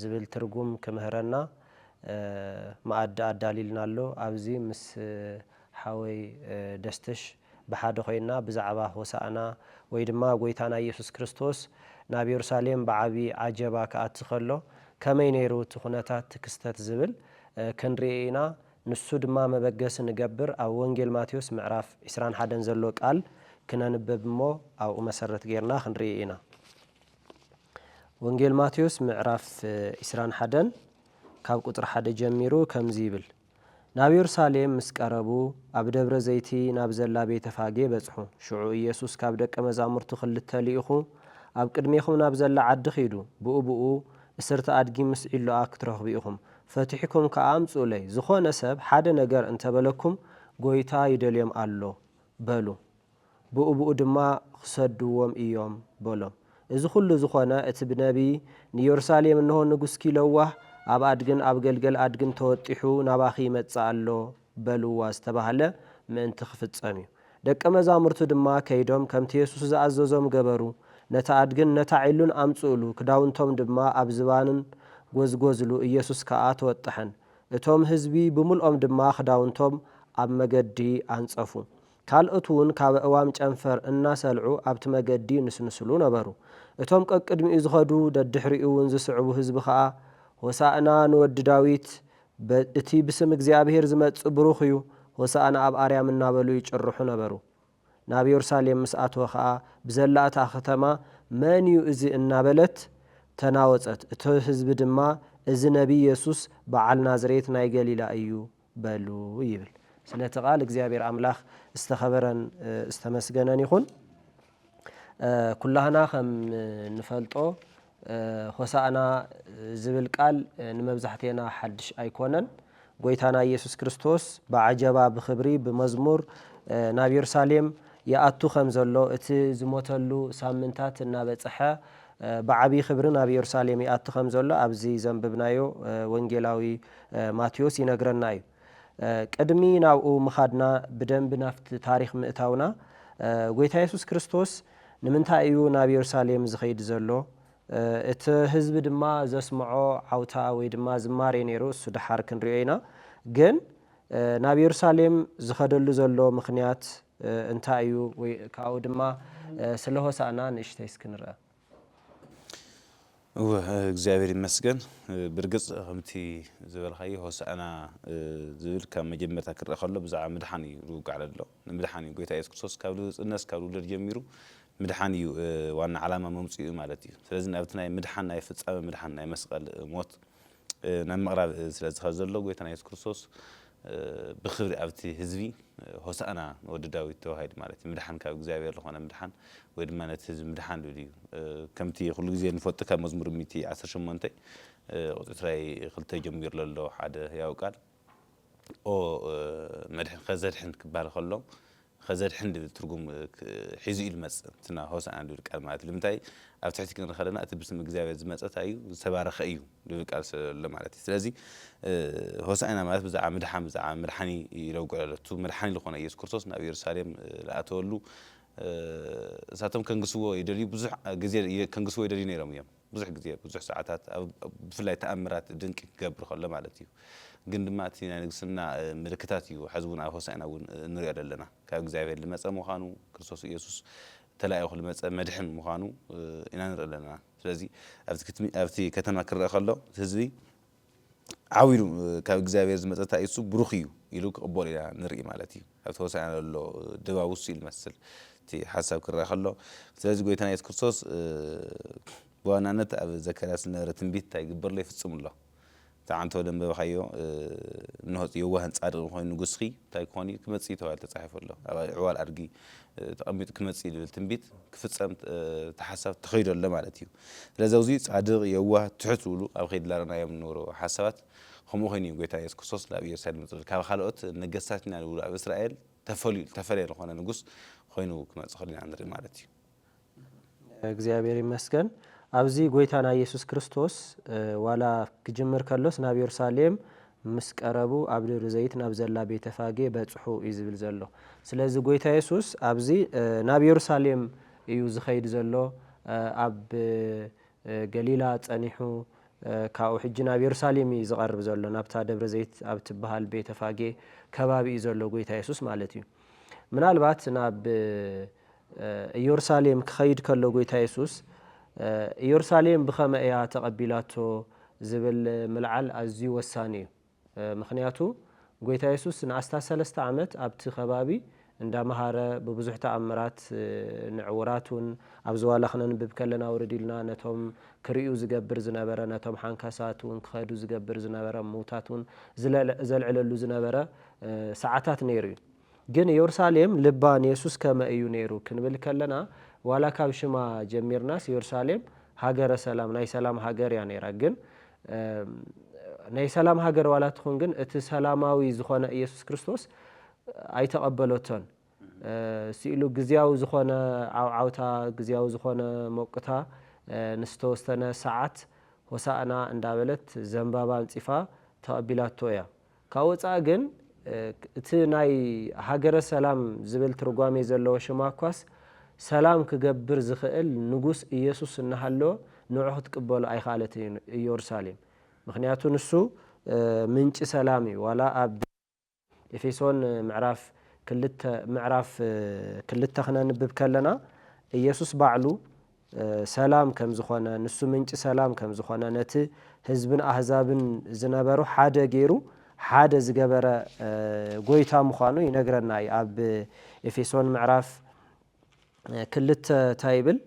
ዝብል ትርጉም ክምህረና መኣዲ ኣዳሊልና ኣሎ ኣብዚ ምስ ሓወይ ደስትሽ ብሓደ ኮይና ብዛዕባ ሆሳእና ወይ ድማ ጎይታና ኢየሱስ ክርስቶስ ናብ የሩሳሌም ብዓቢ ዓጀባ ክኣቲ ከሎ ከመይ ነይሩ እቲ ኩነታት እቲ ክስተት ዝብል ክንርኢ ኢና ንሱ ድማ መበገሲ ንገብር ኣብ ወንጌል ማቴዎስ ምዕራፍ ዕስራን ሓደን ዘሎ ቃል ክነንብብ እሞ ኣብኡ መሰረት ጌርና ክንርኢ ኢና። ወንጌል ማቴዎስ ምዕራፍ ኢስራን ሓደን ካብ ቁጽሪ ሓደ ጀሚሩ ከምዚ ይብል ናብ የሩሳሌም ምስ ቀረቡ ኣብ ደብረ ዘይቲ ናብ ዘላ ቤተ ፋጌ በጽሑ ሽዑ ኢየሱስ ካብ ደቀ መዛሙርቱ ክልተ ልኢኹ ኣብ ቅድሜኹም ናብ ዘላ ዓዲ ኺዱ ብኡብኡ እስርቲ ኣድጊ ምስ ዒሎኣ ክትረኽቡ ኢኹም ፈቲሕኩም ከኣ ኣምጽኡለይ ዝኾነ ሰብ ሓደ ነገር እንተ በለኩም ጐይታ ይደልዮም ኣሎ በሉ ብኡብኡ ድማ ኺሰድዎም እዮም በሎም። እዚ ዅሉ ዝዀነ፣ እቲ ብነብዪ፣ ንየሩሳሌም፣ እንሆ፣ ንጉስኪ ለዋህ፣ ኣብ ኣድግን ኣብ ገልገል ኣድግን ተወጢሑ ናባኺ ይመጽእ ኣሎ፣ በልዋ ዝተባህለ ምእንቲ ኺፍጸም እዩ። ደቀ መዛሙርቱ ድማ ከይዶም ከምቲ የሱስ ዝኣዘዞም ገበሩ፣ ነቲ ኣድግን ነታ ዒሉን ኣምጽእሉ፣ ክዳውንቶም ድማ ኣብ ዝባንን ጐዝጐዝሉ፣ ኢየሱስ ከኣ ተወጠሐን። እቶም ህዝቢ ብምልኦም ድማ ኽዳውንቶም ኣብ መገዲ ኣንጸፉ። ካልኦት እውን ካብ ኣእዋም ጨንፈር እናሰልዑ ኣብቲ መገዲ ይንስንስሉ ነበሩ። እቶም ቀቅድሚኡ ዝኸዱ ደድሕሪኡ እውን ዝስዕቡ ህዝቢ ኸኣ ሆሣእና ንወዲ ዳዊት፣ እቲ ብስም እግዚኣብሔር ዝመጽእ ብሩኽ እዩ፣ ሆሣእና ኣብ ኣርያም እናበሉ ይጭርሑ ነበሩ። ናብ የሩሳሌም ምስ ኣተወ ኸኣ ብዘላ እታ ኸተማ መን እዩ እዚ እናበለት ተናወጸት፣ እቲ ህዝቢ ድማ እዚ ነቢይ የሱስ በዓል ናዝሬት ናይ ገሊላ እዩ፣ በሉ ይብል ስለቲ ቃል እግዚኣብሔር ኣምላክ ዝተከበረን ዝተመስገነን ይኩን ኩላህና ከም ንፈልጦ ሆሳእና ዝብል ቃል ንመብዛሕቴና ሓድሽ ኣይኮነን ጎይታና ኢየሱስ ክርስቶስ ብዓጀባ ብክብሪ ብመዝሙር ናብ የሩሳሌም ይኣቱ ከም ዘሎ እቲ ዝሞተሉ ሳምንታት እናበፀሐ ብዓቢይ ክብሪ ናብ የሩሳሌም ይኣቲ ከም ዘሎ ኣብዚ ዘንብብናዮ ወንጌላዊ ማቴዎስ ይነግረና እዩ። ቅድሚ ናብኡ ምኻድና ብደንቢ ናብቲ ታሪኽ ምእታውና ጎይታ የሱስ ክርስቶስ ንምንታይ እዩ ናብ የሩሳሌም ዝኸይድ ዘሎ? እቲ ህዝቢ ድማ ዘስምዖ ዓውታ ወይ ድማ ዝማሬ ነይሩ እሱ ድሓር ክንሪኦ ኢና ግን ናብ የሩሳሌም ዝኸደሉ ዘሎ ምኽንያት እንታይ እዩ ወይ ካብኡ ድማ ስለ ሆሳእና ንእሽተይ እስኪ ንርኣ። እወ እግዚኣብሔር ይመስገን ብርግጽ ከምቲ ዝበልካዮ ሆሳእና ዝብል ካብ መጀመርታ ክርኣ ከሎ ብዛዕባ ምድሓን እዩ ዝውጋዕ ለሎ ንምድሓን እዩ ጎይታ ኢየሱስ ክርስቶስ ካብ ልህጽነት ካብ ልውለድ ጀሚሩ ምድሓን እዩ ዋና ዓላማ መምጽኡ ማለት እዩ ስለዚ ናብቲ ናይ ምድሓን ናይ ፍጻመ ምድሓን ናይ መስቐል ሞት ናብ ምቕራብ ስለ ዝኸድ ዘሎ ጎይታና የሱስ ክርስቶስ ብኽብሪ ኣብቲ ህዝቢ ሆሳእና ንወዲ ዳዊት ተባሂሉ ማለት እዩ ምድሓን ካብ እግዚኣብሔር ዝኾነ ምድሓን ወይ ድማ ነቲ ህዝቢ ምድሓን ልብል እዩ ከምቲ ኩሉ ግዜ ንፈልጦ ካብ መዝሙር ሚእቲ ዓሰርተ ሸሞንተ ቁፅሪ ትራይ ክልተ ጀሚሩ ለሎ ሓደ ህያው ቃል ኦ መድሕን ኸዘድሕን ክበሃል ኸሎ ኸዘድሕን ድብል ትርጉም ሒዙ እዩ ልመጽእ እንትና ሆሳእና ድብል ቃል ማለት ልምንታይ ኣብ ትሕቲ ክንሪ ኸለና እቲ ብስም እግዚኣብሔር ዝመጸ ታይ እዩ ዝተባረኸ እዩ ድብል ቃል ስለሎ ማለት እዩ ስለዚ ሆሳእና ማለት ብዛዕባ ምድሓን ብዛዕባ መድሓኒ ይለውግዕ ኣሎ እቱ መድሓኒ ልኾነ ኢየሱስ ክርስቶስ ናብ ኢየሩሳሌም ልኣተወሉ እሳቶም ከንግስዎ ይደልዩ ብዙሕ ግዜ ከንግስዎ ይደልዩ ነይሮም እዮም ብዙሕ ግዜ ብዙሕ ሰዓታት ኣብ ብፍላይ ተኣምራት ድንቂ ክገብር ከሎ ማለት እዩ ግን ድማ እቲ ናይ ንግስና ምልክታት እዩ ሐዚ እውን ኣብ ሆሳእና እውን እንሪኦ ዘለና ካብ እግዚኣብሔር ልመፀ ምዃኑ ክርስቶስ ኢየሱስ ተላኢኹ ልመፀ መድሕን ምዃኑ ኢና ንርኢ ለና ስለዚ ኣብቲ ኣብቲ ከተማ ክረእ ከሎ ህዝቢ ዓው ኢሉ ካብ እግዚኣብሔር ዝመጸታ ኢሱ ብሩኽ እዩ ኢሉ ክቕበሎ ኢና ንርኢ ማለት እዩ። ኣብቲ ሆሳዕና ዘሎ ድባብ እሱ እዩ ልመስል እቲ ሓሳብ ክረኣ ከሎ። ስለዚ ጎይታና ኢየሱስ ክርስቶስ ብዋናነት ኣብ ዘካርያስ ዝነበረ ትንቢት እንታይ ይግብር ኣሎ ይፍጽም ኣሎ። እቲ ዓንተቦ ደንበብካዮ እንሆ የዋህን ጻድቕን ኮይኑ ንጉስኪ እንታይ ክኾን እዩ ክመጽእ እዩ ተባሂሉ ተጻሒፉ ኣሎ። ኣብ ዕዋል ኣድጊ ተቐሚጡ ክመጽእ እዩ ዝብል ትንቢት ክፍጸም እቲ ሓሳብ ተኸይዱ ኣሎ ማለት እዩ። ስለዚ ኣብዙይ ጻድቕ የዋህ ትሑት ዝብሉ ኣብ ከይዲ ላረናዮም እንብሩ ሓሳባት ከምኡ ኮይኑ እዩ ጎይታ ኢየሱስ ክርስቶስ ላብ ኢየሩሳሌም ዝጽል ካብ ካልኦት ነገስታት ኢና ዝብሉ ኣብ እስራኤል ተፈልዩ ዝተፈለየ ዝኾነ ንጉስ ኾይኑ ክመጽእ ከሎ ኢና ንርኢ ማለት እዩ። እግዚኣብሔር ይመስገን ኣብዚ ጎይታና ኢየሱስ ክርስቶስ ዋላ ክጅምር ከሎስ ናብ የሩሳሌም ምስ ቀረቡ ኣብ ደብሪ ዘይት ናብ ዘላ ቤተፋጌ በጽሑ እዩ ዝብል ዘሎ ስለዚ ጎይታ የሱስ ኣብዚ ናብ የሩሳሌም እዩ ዝኸይድ ዘሎ ኣብ ገሊላ ጸኒሑ ካብኡ ሕጂ ናብ የሩሳሌም እዩ ዝቐርብ ዘሎ ናብታ ደብረ ዘይት ኣብ ትበሃል ቤተ ፋጌ ከባቢ እዩ ዘሎ ጎይታ የሱስ ማለት እዩ ምናልባት ናብ ኢየሩሳሌም ክኸይድ ከሎ ጎይታ የሱስ ኢየሩሳሌም ብኸመይ እያ ተቐቢላቶ ዝብል ምልዓል ኣዝዩ ወሳኒ እዩ ምኽንያቱ ጎይታ የሱስ ንኣስታት ሰለስተ ዓመት ኣብቲ ከባቢ እንዳ መሃረ ብብዙሕ ተኣምራት ንዕዉራት ውን ኣብ ዝዋላ ክነንብብ ከለና ውርድ ኢሉና ነቶም ክርእዩ ዝገብር ዝነበረ ነቶም ሓንካሳት ውን ክኸዱ ዝገብር ዝነበረ ምዉታት ውን ዘልዕለሉ ዝነበረ ሰዓታት ነይሩ እዩ። ግን የሩሳሌም ልባ ንየሱስ ከመ እዩ ነይሩ ክንብል ከለና ዋላ ካብ ሽማ ጀሚርናስ የሩሳሌም ሃገረ ሰላም ናይ ሰላም ሃገር እያ ነይራ ግን ናይ ሰላም ሃገር ዋላ ትኹን ግን እቲ ሰላማዊ ዝኾነ ኢየሱስ ክርስቶስ ኣይተቐበለቶን ስኢሉ ግዝያዊ ዝኾነ ዓውዓውታ ግዝያዊ ዝኾነ ሞቅታ ንዝተወሰነ ሰዓት ሆሳእና እንዳበለት ዘንባባ ኣንጺፋ ተቐቢላቶ እያ። ካብ ወጻኢ ግን እቲ ናይ ሃገረ ሰላም ዝብል ትርጓሜ ዘለዎ ሽማ እኳስ ሰላም ክገብር ዝኽእል ንጉስ ኢየሱስ እናሃለወ ንዑ ክትቅበሉ ኣይኸኣለትን ኢዮሩሳሌም ምኽንያቱ ንሱ ምንጪ ሰላም እዩ ዋላ ኣብ ኤፌሶን ምዕራፍ ክልተ ምዕራፍ ክልተ ክነንብብ ከለና ኢየሱስ ባዕሉ ሰላም ከም ዝኾነ፣ ንሱ ምንጪ ሰላም ከም ዝኾነ፣ ነቲ ህዝብን ኣህዛብን ዝነበሩ ሓደ ገይሩ ሓደ ዝገበረ ጎይታ ምዃኑ ይነግረና እዩ። ኣብ ኤፌሶን ምዕራፍ ክልተ እንታይ ይብል?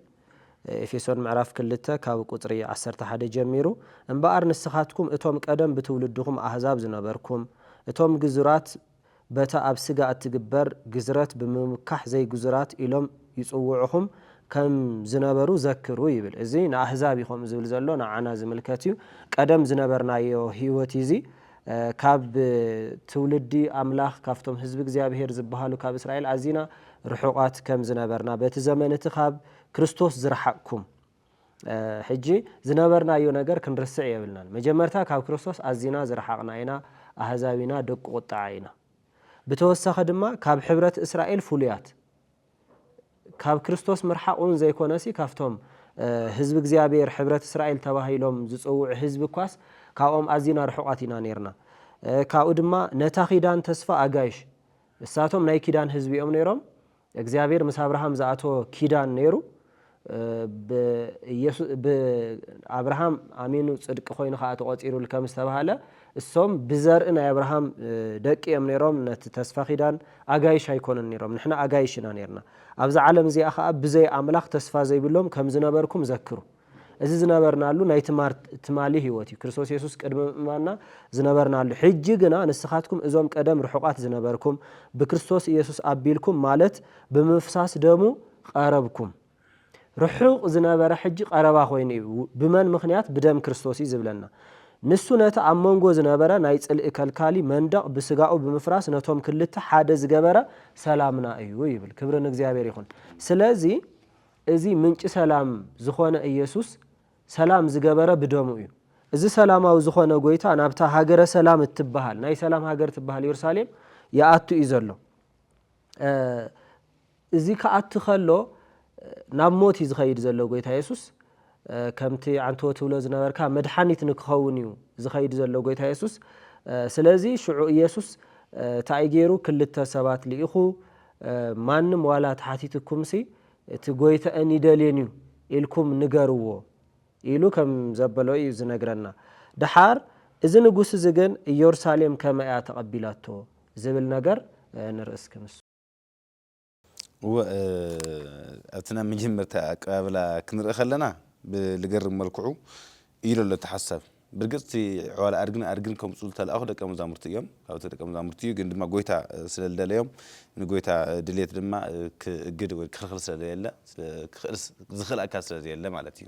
ኤፌሶን ምዕራፍ ክልተ ካብ ቁጽሪ ዓሰርተ ሓደ ጀሚሩ እምበኣር ንስኻትኩም እቶም ቀደም ብትውልድኹም ኣህዛብ ዝነበርኩም እቶም ግዙራት በታ ኣብ ስጋ እትግበር ግዝረት ብምምካሕ ዘይግዙራት ኢሎም ይጽውዑኹም ከም ዝነበሩ ዘክሩ ይብል። እዚ ንኣህዛብ እዩ ከምኡ ዝብል ዘሎ፣ ንዓና ዝምልከት እዩ። ቀደም ዝነበርናዮ ህይወት እዩ እዚ። ካብ ትውልዲ ኣምላኽ፣ ካብቶም ህዝቢ እግዚኣብሄር ዝበሃሉ ካብ እስራኤል ኣዚና ርሑቓት ከም ዝነበርና፣ በቲ ዘመን እቲ ካብ ክርስቶስ ዝረሓቕኩም ሕጂ ዝነበርናዮ ነገር ክንርስዕ የብልናን። መጀመርታ ካብ ክርስቶስ ኣዚና ዝረሓቕና ኢና፣ ኣህዛብ ኢና፣ ደቂ ቁጥዓ ኢና። ብተወሳኺ ድማ ካብ ሕብረት እስራኤል ፍሉያት፣ ካብ ክርስቶስ ምርሓቕ እውን ዘይኮነሲ ካብቶም ህዝቢ እግዚኣብሔር ሕብረት እስራኤል ተባሂሎም ዝጽውዑ ህዝቢ እኳስ ካብኦም ኣዚና ርሑቓት ኢና ነይርና። ካብኡ ድማ ነታ ኪዳን ተስፋ ኣጋይሽ፣ እሳቶም ናይ ኪዳን ህዝቢ እዮም ነይሮም፣ እግዚኣብሔር ምስ ኣብርሃም ዝኣተዎ ኪዳን ነይሩ ብ ኣብርሃም ኣሚኑ ጽድቂ ኮይኑ ከኣ ተቆጺሩሉ ከም ዝተባህለ እሶም ብዘርኢ ናይ ኣብርሃም ደቂ እዮም ነይሮም ነቲ ተስፋ ኪዳን ኣጋይሽ ኣይኮኑን ነይሮም ንሕና ኣጋይሽ ኢና ነርና ኣብዛ ዓለም እዚኣ ከኣ ብዘይ ኣምላኽ ተስፋ ዘይብሎም ከም ዝነበርኩም ዘክሩ እዚ ዝነበርናሉ ናይ ትማር ትማሊ ህይወት እዩ፣ ክርስቶስ የሱስ ቅድሚ ምእማንና ዝነበርናሉ። ሕጂ ግና ንስኻትኩም እዞም ቀደም ርሑቓት ዝነበርኩም፣ ብክርስቶስ ኢየሱስ ኣቢልኩም ማለት ብምፍሳስ ደሙ ቐረብኩም። ርሑቕ ዝነበረ ሕጂ ቐረባ ኮይኑ እዩ። ብመን ምኽንያት? ብደም ክርስቶስ እዩ ዝብለና። ንሱ ነቲ ኣብ መንጎ ዝነበረ ናይ ጽልኢ ከልካሊ መንደቕ ብስጋኡ ብምፍራስ ነቶም ክልተ ሓደ ዝገበረ ሰላምና እዩ ይብል። ክብሪ ንእግዚኣብሔር ይኹን። ስለዚ እዚ ምንጪ ሰላም ዝኾነ ኢየሱስ ሰላም ዝገበረ ብደሙ እዩ። እዚ ሰላማዊ ዝኾነ ጎይታ ናብታ ሃገረ ሰላም እትበሃል ናይ ሰላም ሃገር ትበሃል የሩሳሌም ይኣቱ እዩ ዘሎ። እዚ ክኣቲ ከሎ ናብ ሞት እዩ ዝኸይድ ዘሎ ጎይታ የሱስ ከምቲ ዓንተዎ ትብሎ ዝነበርካ መድሓኒት ንክኸውን እዩ ዝኸይድ ዘሎ ጎይታ የሱስ። ስለዚ ሽዑ ኢየሱስ ታኣይ ገይሩ ክልተ ሰባት ልኢኹ ማንም ዋላ ተሓቲትኩምሲ እቲ ጎይታኤን ይደልየን እዩ ኢልኩም ንገርዎ ኢሉ ከም ዘበሎ እዩ ዝነግረና። ደሓር እዚ ንጉስ እዚ ግን ኢየሩሳሌም ከመይ እያ ተቐቢላቶ ዝብል ነገር ንርኢ እስኪ ንሱ። እወ ኣብቲ ናይ መጀመርታ ኣቀባብላ ክንርኢ ከለና ብልገርም መልክዑ እዩ ለሎ እቲ ሓሳብ። ብርግጽ እቲ ዕዋላ ኣድግን ኣድግን ከምጽኡ ዝተላእኩ ደቀ መዛሙርቲ እዮም። ካብቲ ደቀ መዛሙርቲ እዩ ግን ድማ ጎይታ ስለ ልደለዮም ንጎይታ ድልየት ድማ ክእግድ ወይ ክክልክል ስለ ለየለ ስለ ክክእልስ ዝክእል ኣካል ስለ ዘየለ ማለት እዩ።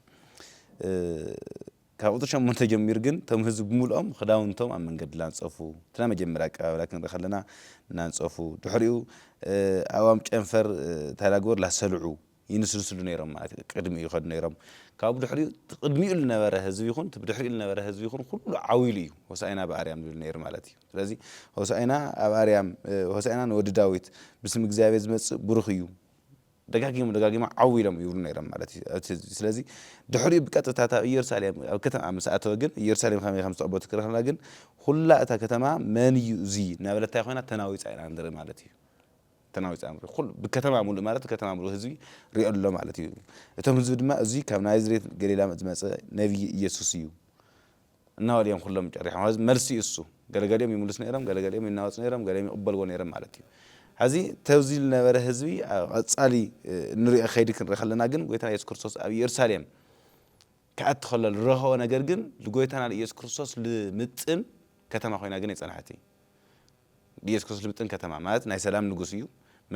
ካብ ቁጽሪ ሸሞንተ ጀሚሩ ግን እቶም ህዝቢ ብምልኦም ክዳውንቶም ኣብ መንገዲ ላንጸፉ እቲ ናይ መጀመርያ ኣቀባብላ ክንርኢ ከለና ናንጸፉ ድሕሪኡ ኣእዋም ጨንፈር ታይላጎር ላሰልዑ ይንስንስሉ ነይሮም ማለት እዩ ቅድሚኡ ይኸዱ ነይሮም ካብኡ ድሕሪኡ እቲ ቅድሚኡ ዝነበረ ህዝቢ ይኹን እቲ ብድሕሪኡ ዝነበረ ህዝቢ ይኹን ኩሉ ዓው ኢሉ እዩ ሆሳኢና ብኣርያም ዝብል ነይሩ ማለት እዩ ስለዚ ሆሳኢና ኣብ ኣርያም ሆሳኢና ንወዲ ዳዊት ብስም እግዚኣብሔር ዝመጽእ ብሩኽ እዩ ደጋጊሞም ደጋጊሞም ዓው ኢሎም ይብሉ ነይሮም ማለት እዩ እቲ ህዝቢ ስለዚ ድሕሪኡ ብቀጥታ እታ ኢየሩሳሌም ኣብ ከተማ ምስ ኣተወ ግን ኢየሩሳሌም ከመይ ከም ዝተቐበለት ክረኽብና ግን ኩላ እታ ከተማ መን እዩ እዚ እናበለት እንታይ ኮይና ተናዊጻ ኢና ንርኢ ማለት እዩ ተናዊጽ ኣምር ኩሉ ብከተማ ሙሉእ ማለት ብከተማ ሙሉእ ህዝቢ ሪኦ ኣሎ ማለት እዩ እቶም ህዝቢ ድማ እዙይ ካብ ናዝሬት ገሊላ ዝመጸ ነብዪ እየሱስ እዩ እናበሉ እዮም ኩሎም ጨሪሖም ሐዚ መልሲ እዩ እሱ ገለገሊኦም ይምልሱ ነይሮም ገለገሊኦም ይናወጹ ነይሮም ገሊኦም ይቕበልዎ ነይሮም ማለት እዩ ሐዚ ተብዚ ዝነበረ ህዝቢ ኣብ ቐጻሊ እንሪኦ ከይዲ ክንርኢ ከለና ግን ጎይታና ኢየሱስ ክርስቶስ ኣብ ኢየሩሳሌም ክኣቲ ከሎ ዝረኸቦ ነገር ግን ንጎይታና ንኢየሱስ ክርስቶስ ልምጥን ከተማ ኮይና ግን ኣይጸንሐትን ኢየሱስ ክርስቶስ ልምጥን ከተማ ማለት ናይ ሰላም ንጉስ እዩ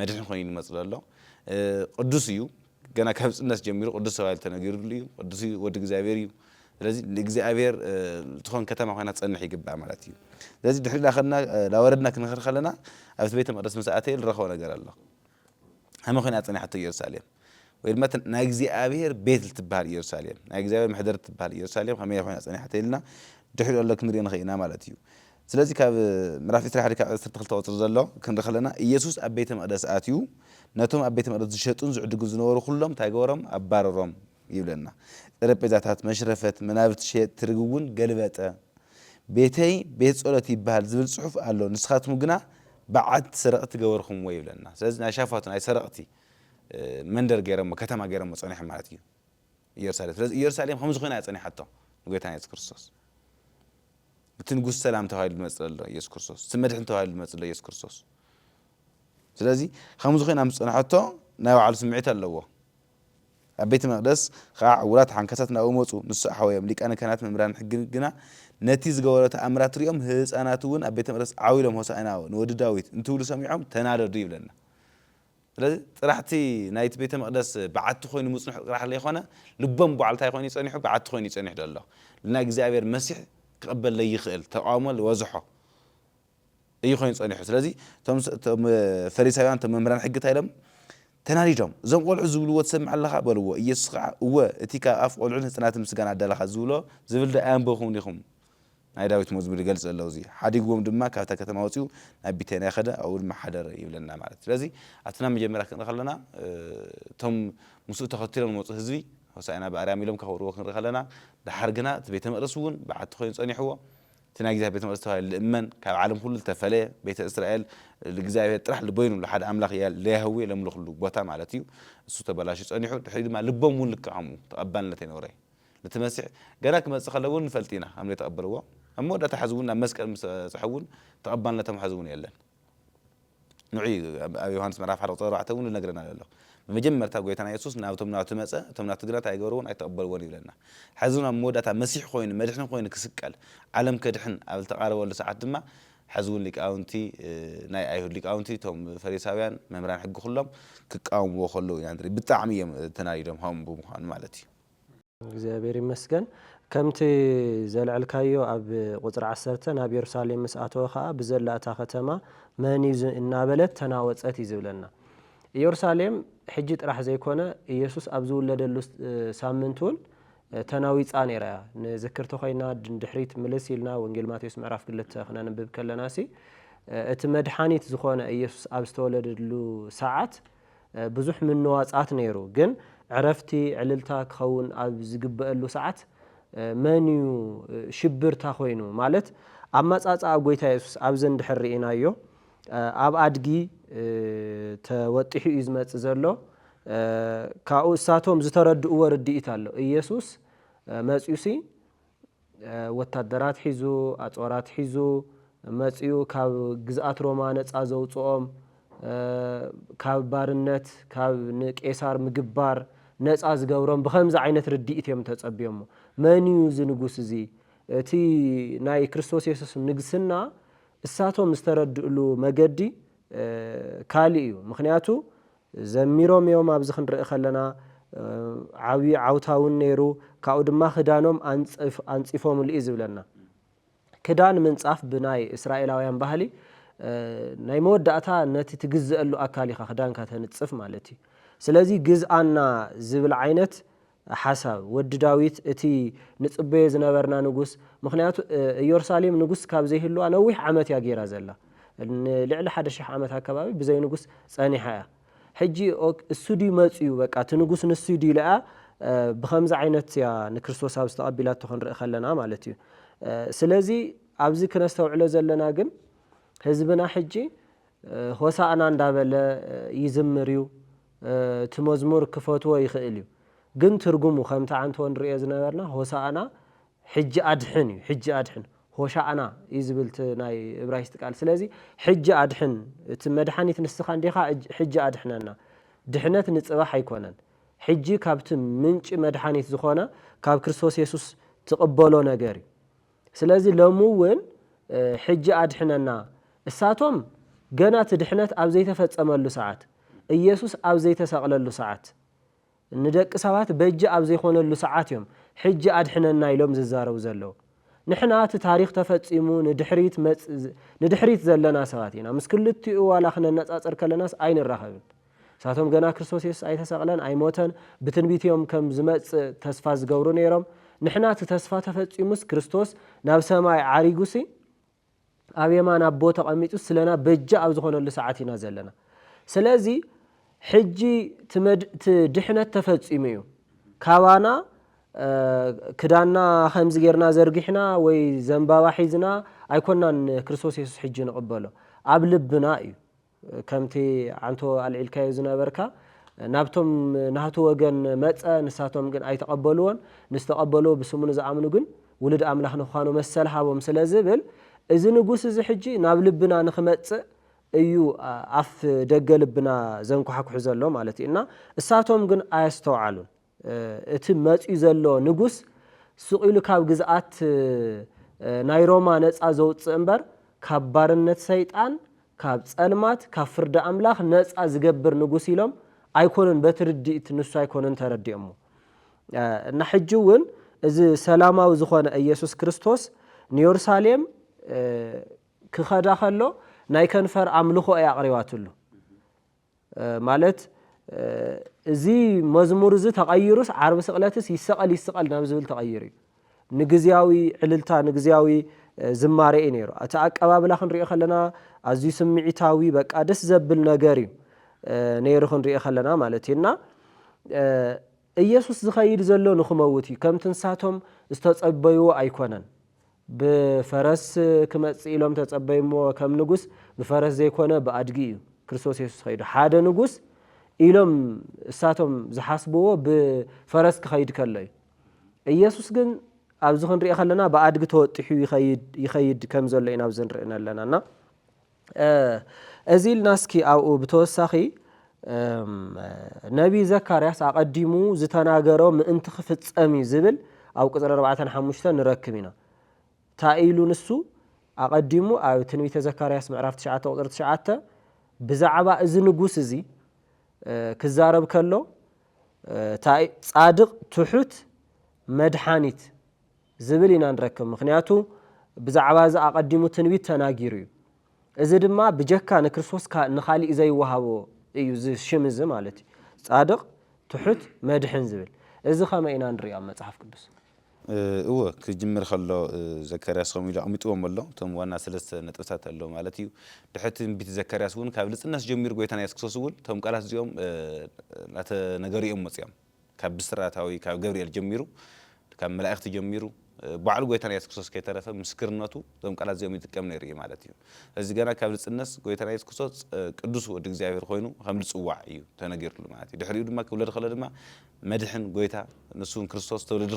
መድሕን ኮይኑ ይመጽእ ዘሎ ቅዱስ እዩ ገና ካብ ጽነት ጀሚሩ ቅዱስ ተባሂሉ ተነጊርሉ እዩ ቅዱስ እዩ ወዲ እግዚኣብሔር እዩ ስለዚ ንእግዚኣብሔር ትኾን ከተማ ኮይና ትጸንሕ ይግባእ ማለት እዩ ስለዚ ድሕሪ ላኸድና ላወረድና ክንኸር ከለና ኣብቲ ቤተ መቅደስ ምስ ኣተየ ዝረኸቦ ነገር ኣሎ ሃመ ኮይና ጸኒሓቶ ኢየሩሳሌም ወይ ድማ እታ ናይ እግዚኣብሄር ቤት ልትበሃል እየሩሳሌም፣ ናይ እግዚኣብሄር መሕደሪ እትበሃል እየሩሳሌም ከመይ ኮይና ጸኒሓ ተኢልና ድሕሪኡ ዘሎ ክንርኢ ንኽእል ኢና ማለት እዩ። ስለዚ ካብ ምዕራፍ ዕስራን ሓደ ክሳብ ዓሰርተ ክልተ ቁጽሪ ዘሎ ክንርኢ ከለና እየሱስ ኣብ ቤተ መቕደስ ኣትዩ ነቶም ኣብ ቤተ መቕደስ ዝሸጡን ዝዕድጉን ዝነበሩ ኩሎም እንታይ ገበሮም ኣባረሮም ይብለና። ጠረጴዛታት፣ መሽረፈት፣ መናብርቲ ሸየጥቲ ርግብ እውን ገልበጠ። ቤተይ ቤት ጸሎት ይበሃል ዝብል ጽሑፍ ኣሎ ንስኻትኩም ግና በዓቲ ሰረቕቲ ገበርኩምዎ ይብለና። ስለዚ ናይ ሻፋቱ ናይ ሰረቕቲ መንደር ገይሮሞ ከተማ ገይሮሞ ጸኒሖም ማለት እዩ ኢየሩሳሌም ስለዚ ኢየሩሳሌም ከምዚ ኮይና እያ ጸኒሓቶ ንጎይታና ኢየሱስ ክርስቶስ እቲ ንጉስ ሰላም ተባሂሉ ዝመጽእ ዘሎ ኢየሱስ ክርስቶስ እቲ መድሕን ተባሂሉ ዝመጽእ ዘሎ ኢየሱስ ክርስቶስ ስለዚ ከምዚ ኮይና ምስ ጸንሐቶ ናይ ባዕሉ ስምዒት ኣለዎ ኣብ ቤተ መቅደስ ከዓ ዕውራት ሓንካሳት ናብኡ መፁ ንሱ ኣሕወዮም ሊቃነ ካህናት መምህራን ሕጊ ግና ነቲ ዝገበሮ ተኣምራት ሪኦም ህፃናት እውን ኣብ ቤተ መቅደስ ዓው ኢሎም ሆሳዕና ንወዲ ዳዊት እንትብሉ ሰሚዖም ተናደዱ ይብለና ስለዚ ጥራሕ እቲ ናይቲ ቤተ መቕደስ በዓቲ ኮይኑ ምጽንሑ ጥራሕ ለይኮነ ልቦም ጓዕ ልታይ ኮይኑ እዩ ጸኒሑ በዓቲ ኮይኑ እዩ ጸኒሑ ደሎ ልናይ እግዚኣብሔር መሲሕ ክቕበል ለይኽእል ተቃውሞ ልወዘሖ እዩ ኮይኑ ጸኒሑ ስለዚ እቶም ፈሪሳውያን እቶም መምህራን ሕጊ እንታይ ኢሎም ተናዲዶም እዞም ቆልዑ ዝብልዎ ትሰምዕ ኣለኻ በልዎ ኢየሱስ ከዓ እወ እቲ ካብ ኣፍ ቆልዑን ህጽናትን ምስጋና ኣዳለኻ ዝብሎ ዝብል ዶ ኣየንበብኹምን ኢኹም ናይ ዳዊት መዝሙር ይገልጽ ዘሎ እዚ ሓዲግዎም ድማ ካብታ ከተማ ወጺኡ ናብ ቢተንያ ከደ ኣብኡ ድማ ሓደረ ይብለና ማለት እዩ ስለዚ ኣብቲ ናብ መጀመርያ ክንርኢ ከለና እቶም ምስኡ ተኸቲሎም ዝመጹ ህዝቢ ሆሳኢና ብኣርያም ኢሎም ከኽብርዎ ክንርኢ ከለና ደሓር ግና እቲ ቤተ መቕደስ እውን በዓቲ ኮይኑ ጸኒሕዎ እቲ ናይ እግዚኣብሔር ቤተ መቅደስ ተባሂሉ ልእመን ካብ ዓለም ኩሉ ልተፈለየ ቤተ እስራኤል ልእግዚኣብሔር ጥራሕ ልበይኑ ልሓደ ኣምላኽ ለያህዌ ለምልኽሉ ቦታ ማለት እዩ እሱ ተበላሽዩ ጸኒሑ ድሕሪኡ ድማ ልቦም እውን ልክዕ ከምኡ ተቐባልነት ኣይነበሮይ ነቲ መሲሕ ገና ክመጽእ ከሎ እውን ንፈልጥ ኢና ሃም ዘይተቐበልዎ፣ ኣብ መወዳእታ ሕዚ እውን ናብ መስቀል ምስ በጽሑ እውን ተቐባልነቶም ሕዚ እውን የለን። ንዑ እዩ ኣብ ዮሃንስ ምዕራፍ ሓደ ቁጽሪ ኣርባዕተ እውን ዝነግረና ዘሎ። ብመጀመርታ ጎይታና የሱስ ናብቶም ናቱ መጸ፣ እቶም ናቱ ግና እንታይ ኣይገበርዎን ኣይተቐበልዎን ይብለና። ሕዚ እውን ኣብ መወዳእታ መሲሕ ኮይኑ መድሕን ኮይኑ ክስቀል ዓለም ከድሕን ኣብ ዝተቓረበሉ ሰዓት ድማ ሕዚ እውን ሊቃውንቲ ናይ ኣይሁድ ሊቃውንቲ እቶም ፈሪሳውያን መምህራን ሕጊ ኩሎም ክቃወምዎ ከለዉ ኢና ንርኢ። ብጣዕሚ እዮም ተናዲዶም ሃም ብምዃኑ ማለት እዩ። እግዚኣብሔር ይመስገን ከምቲ ዘልዐልካዮ ኣብ ቁፅሪ ዓሰርተ ናብ የሩሳሌም ምስ ኣተወ ኸዓ ብዘላ እታ ኸተማ መን እዩ እናበለት ተናወፀት እዩ ዝብለና ኢየሩሳሌም ሕጂ ጥራሕ ዘይኮነ ኢየሱስ ኣብ ዝውለደሉ ሳምንት እውን ተናዊፃ ነይራ እያ ንዝክር ተኾይና ድሕሪት ምልስ ኢልና ወንጌል ማቴዎስ ምዕራፍ ክልተ ክነንብብ ከለናሲ እቲ መድሓኒት ዝኾነ ኢየሱስ ኣብ ዝተወለደሉ ሰዓት ብዙሕ ምንዋጻት ነይሩ ግን ዕረፍቲ ዕልልታ ክኸውን ኣብ ዝግበእሉ ሰዓት መን እዩ ሽብርታ ኮይኑ ማለት ኣማጻጽኣ ጎይታ የሱስ ኣብዚ እንድሕር ርኢናዮ ኣብ ኣድጊ ተወጢሑ እዩ ዝመጽእ ዘሎ ካብኡ እሳቶም ዝተረድእዎ ርድኢት ኣሎ ኢየሱስ መጽዩሲ ወታደራት ሒዙ፣ ኣጽዋራት ሒዙ መጺኡ ካብ ግዝኣት ሮማ ነጻ ዘውጽኦም፣ ካብ ባርነት ካብ ንቄሳር ምግባር ነጻ ዝገብሮም ብኸምዚ ዓይነት ርድኢት እዮም ተጸብዮሞ። መን እዩ እዚ ንጉስ እዚ? እቲ ናይ ክርስቶስ የሱስ ንግስና እሳቶም ዝተረድእሉ መገዲ ካልእ እዩ። ምኽንያቱ ዘሚሮም እዮም ኣብዚ ክንርኢ ከለና ዓብዪ ዓውታ እውን ነይሩ ካብኡ ድማ ክዳኖም ኣንፂፎምሉ እዩ ዝብለና ክዳን ምንፃፍ ብናይ እስራኤላውያን ባህሊ ናይ መወዳእታ ነቲ ትግዘአሉ ኣካል ኢኻ ክዳንካ ተንፅፍ ማለት እዩ ስለዚ ግዝኣና ዝብል ዓይነት ሓሳብ ወዲ ዳዊት እቲ ንጽበዮ ዝነበርና ንጉስ ምኽንያቱ እዮርሳሌም ንጉስ ካብ ዘይህልዋ ነዊሕ ዓመት እያ ጌራ ዘላ ንልዕሊ ሓደ ሽሕ ዓመት ኣከባቢ ብዘይ ንጉስ ጸኒሓ እያ ሕጂ እሱ ድዩ መጽዩ በቃ እቲ ንጉስ ንሱ ድዩ ኢላ እያ ብከምዚ ዓይነት እያ ንክርስቶስ ኣብዚ ተቐቢላቶ ክንርኢ ከለና ማለት እዩ ስለዚ ኣብዚ ክነስተውዕሎ ዘለና ግን ህዝብና ሕጂ ሆሳእና እንዳበለ ይዝምር እዩ እቲ መዝሙር ክፈትዎ ይኽእል እዩ ግን ትርጉሙ ከምቲ ዓንተቦ ንርእዮ ዝነበርና ሆሳእና ሕጂ ኣድሕን እዩ ሕጂ ኣድሕን ሆሻእና እዩ ዝብል እቲ ናይ እብራይስጢ ቃል ስለዚ ሕጂ ኣድሕን እቲ መድሓኒት ንስኻ እንዲኻ ሕጂ ኣድሕነና ድሕነት ንጽባሕ ኣይኮነን ሕጂ ካብቲ ምንጪ መድሓኒት ዝኾነ ካብ ክርስቶስ የሱስ ትቕበሎ ነገር እዩ ስለዚ ሎሚ እውን ሕጂ ኣድሕነና እሳቶም ገና እቲ ድሕነት ኣብ ዘይተፈጸመሉ ሰዓት፣ ኢየሱስ ኣብ ዘይተሰቕለሉ ሰዓት፣ ንደቂ ሰባት በጃ ኣብ ዘይኮነሉ ሰዓት እዮም ሕጂ ኣድሕነና ኢሎም ዝዛረቡ ዘለዉ። ንሕና እቲ ታሪኽ ተፈጺሙ ንድሕሪት ንድሕሪት ዘለና ሰባት ኢና። ምስ ክልቲኡ ዋላ ክነነጻጽር ከለናስ ኣይንራኸብን። ንሳቶም ገና ክርስቶስ የሱስ ኣይተሰቕለን ኣይሞተን ብትንቢት እዮም ከም ዝመጽእ ተስፋ ዝገብሩ ነይሮም። ንሕና እቲ ተስፋ ተፈጺሙስ ክርስቶስ ናብ ሰማይ ዓሪጉሲ ኣብ የማን ኣቦ ተቐሚጡ ስለና በጃ ኣብ ዝኾነሉ ሰዓት ኢና ዘለና። ስለዚ ሕጂ እቲ ድሕነት ተፈጺሙ እዩ። ካባና ክዳንና ከምዚ ጌርና ዘርጊሕና ወይ ዘንባባ ሒዝና ኣይኮናን ክርስቶስ የሱስ ሕጂ ንቕበሎ ኣብ ልብና እዩ። ከምቲ ዓንቶ ኣልዒልካዮ ዝነበርካ ናብቶም ናህቱ ወገን መጸ ንሳቶም ግን ኣይተቀበልዎን ንዝተቀበልዎ ብስሙ ንዝኣምኑ ግን ውሉድ ኣምላኽ ንክዃኑ መሰል ሃቦም ስለ ዝብል እዚ ንጉስ እዚ ሕጂ ናብ ልብና ንክመጽእ እዩ ኣፍ ደገ ልብና ዘንኳሕኩሕ ዘሎ ማለት እዩ እና እሳቶም ግን ኣየስተውዓሉን እቲ መጺኡ ዘሎ ንጉስ ስቕ ኢሉ ካብ ግዝኣት ናይ ሮማ ነጻ ዘውጽእ እምበር፣ ካብ ባርነት ሰይጣን፣ ካብ ጸልማት፣ ካብ ፍርዲ ኣምላኽ ነጻ ዝገብር ንጉስ ኢሎም ኣይኮኑን በቲ ርድኢት ንሱ ኣይኮኑን ተረዲኦሞ። እና ሕጂ እውን እዚ ሰላማዊ ዝኾነ ኢየሱስ ክርስቶስ ንዮርሳሌም ክኸዳ ከሎ ናይ ከንፈር ኣምልኾ እያ ኣቕሪባትሉ። ማለት እዚ መዝሙር እዚ ተቐይሩስ ዓርቢ ስቕለትስ ይሰቐል ይስቐል ናብ ዝብል ተቐይሩ እዩ። ንግዝያዊ ዕልልታ ንግዝያዊ ዝማሬ እዩ ነይሩ። እቲ ኣቀባብላ ክንሪኦ ከለና ኣዝዩ ስምዒታዊ በቃ ደስ ዘብል ነገር እዩ ነይሩ ክንሪኦ ከለና ማለት እዩ እና ኢየሱስ ዝኸይድ ዘሎ ንክመውት እዩ ከምቲ ንሳቶም ዝተጸበይዎ ኣይኮነን። ብፈረስ ክመጽእ ኢሎም ተጸበዩሞ ከም ንጉስ ብፈረስ ዘይኮነ ብኣድጊ እዩ ክርስቶስ የሱስ ኸይዱ ሓደ ንጉስ ኢሎም እሳቶም ዝሓስብዎ ብፈረስ ክኸይድ ከሎ እዩ ኢየሱስ ግን ኣብዚ ክንሪኦ ከለና ብኣድጊ ተወጢሑ ይኸይድ ይኸይድ ከም ዘሎ ኢና ኣብዚ ንርኢ ኣለና እና እዚ ኢልና እስኪ ኣብኡ ብተወሳኺ ነቢይ ዘካርያስ ኣቐዲሙ ዝተናገሮ ምእንቲ ክፍጸም እዩ ዝብል ኣብ ቅፅሪ ኣርባዕተን ሓሙሽተን ንረክብ ኢና እንታይ ኢሉ ንሱ ኣቐዲሙ ኣብ ትንቢተ ዘካርያስ ምዕራፍ ትሽዓተ ቁፅሪ ትሽዓተ ብዛዕባ እዚ ንጉስ እዚ ክዛረብ ከሎ ጻድቕ ትሑት መድሓኒት ዝብል ኢና ንረክብ። ምኽንያቱ ብዛዕባ እዚ ኣቐዲሙ ትንቢት ተናጊሩ እዩ። እዚ ድማ ብጀካ ንክርስቶስ ንኻሊእ ዘይወሃቦ እዩ እዚ ሽም እዚ ማለት እዩ። ጻድቕ፣ ትሑት፣ መድሕን ዝብል። እዚ ከመይ ኢና ንርእዮ ኣብ መጽሓፍ ቅዱስ? እወ ክጅምር ከሎ ዘካርያስ ከምኡ ኢሉ ኣቕሚጥዎም ኣሎ። እቶም ዋና ሰለስተ ነጥብታት ኣሎ ማለት እዩ። ድሕሪ እቲ ትንቢት ዘካርያስ እውን ካብ ንጽህናስ ጀሚሩ ጎይታና የሱስ ክርስቶስ እውን እቶም ቃላት እዚኦም እናተነገሩ እዮም መጺኦም። ካብ ብስራታዊ ካብ ገብርኤል ጀሚሩ ካብ መላእክቲ ጀሚሩ ባዕሉ ጎይታና የሱስ ክርስቶስ ከይተረፈ ምስክርነቱ እዞም ቃላት እዚኦም ይጥቀም ነይሩ እዩ ማለት እዩ። እዚ ገና ካብ ንጽነስ ጎይታና የሱስ ክርስቶስ ቅዱስ ወዲ እግዚኣብሔር ኮይኑ ከም ዝጽዋዕ እዩ ተነጊርሉ ማለት እዩ። ድሕሪኡ ድማ ክውለድ ከሎ ድማ መድሕን ጎይታ ንሱ እውን ክርስቶስ ተወለደ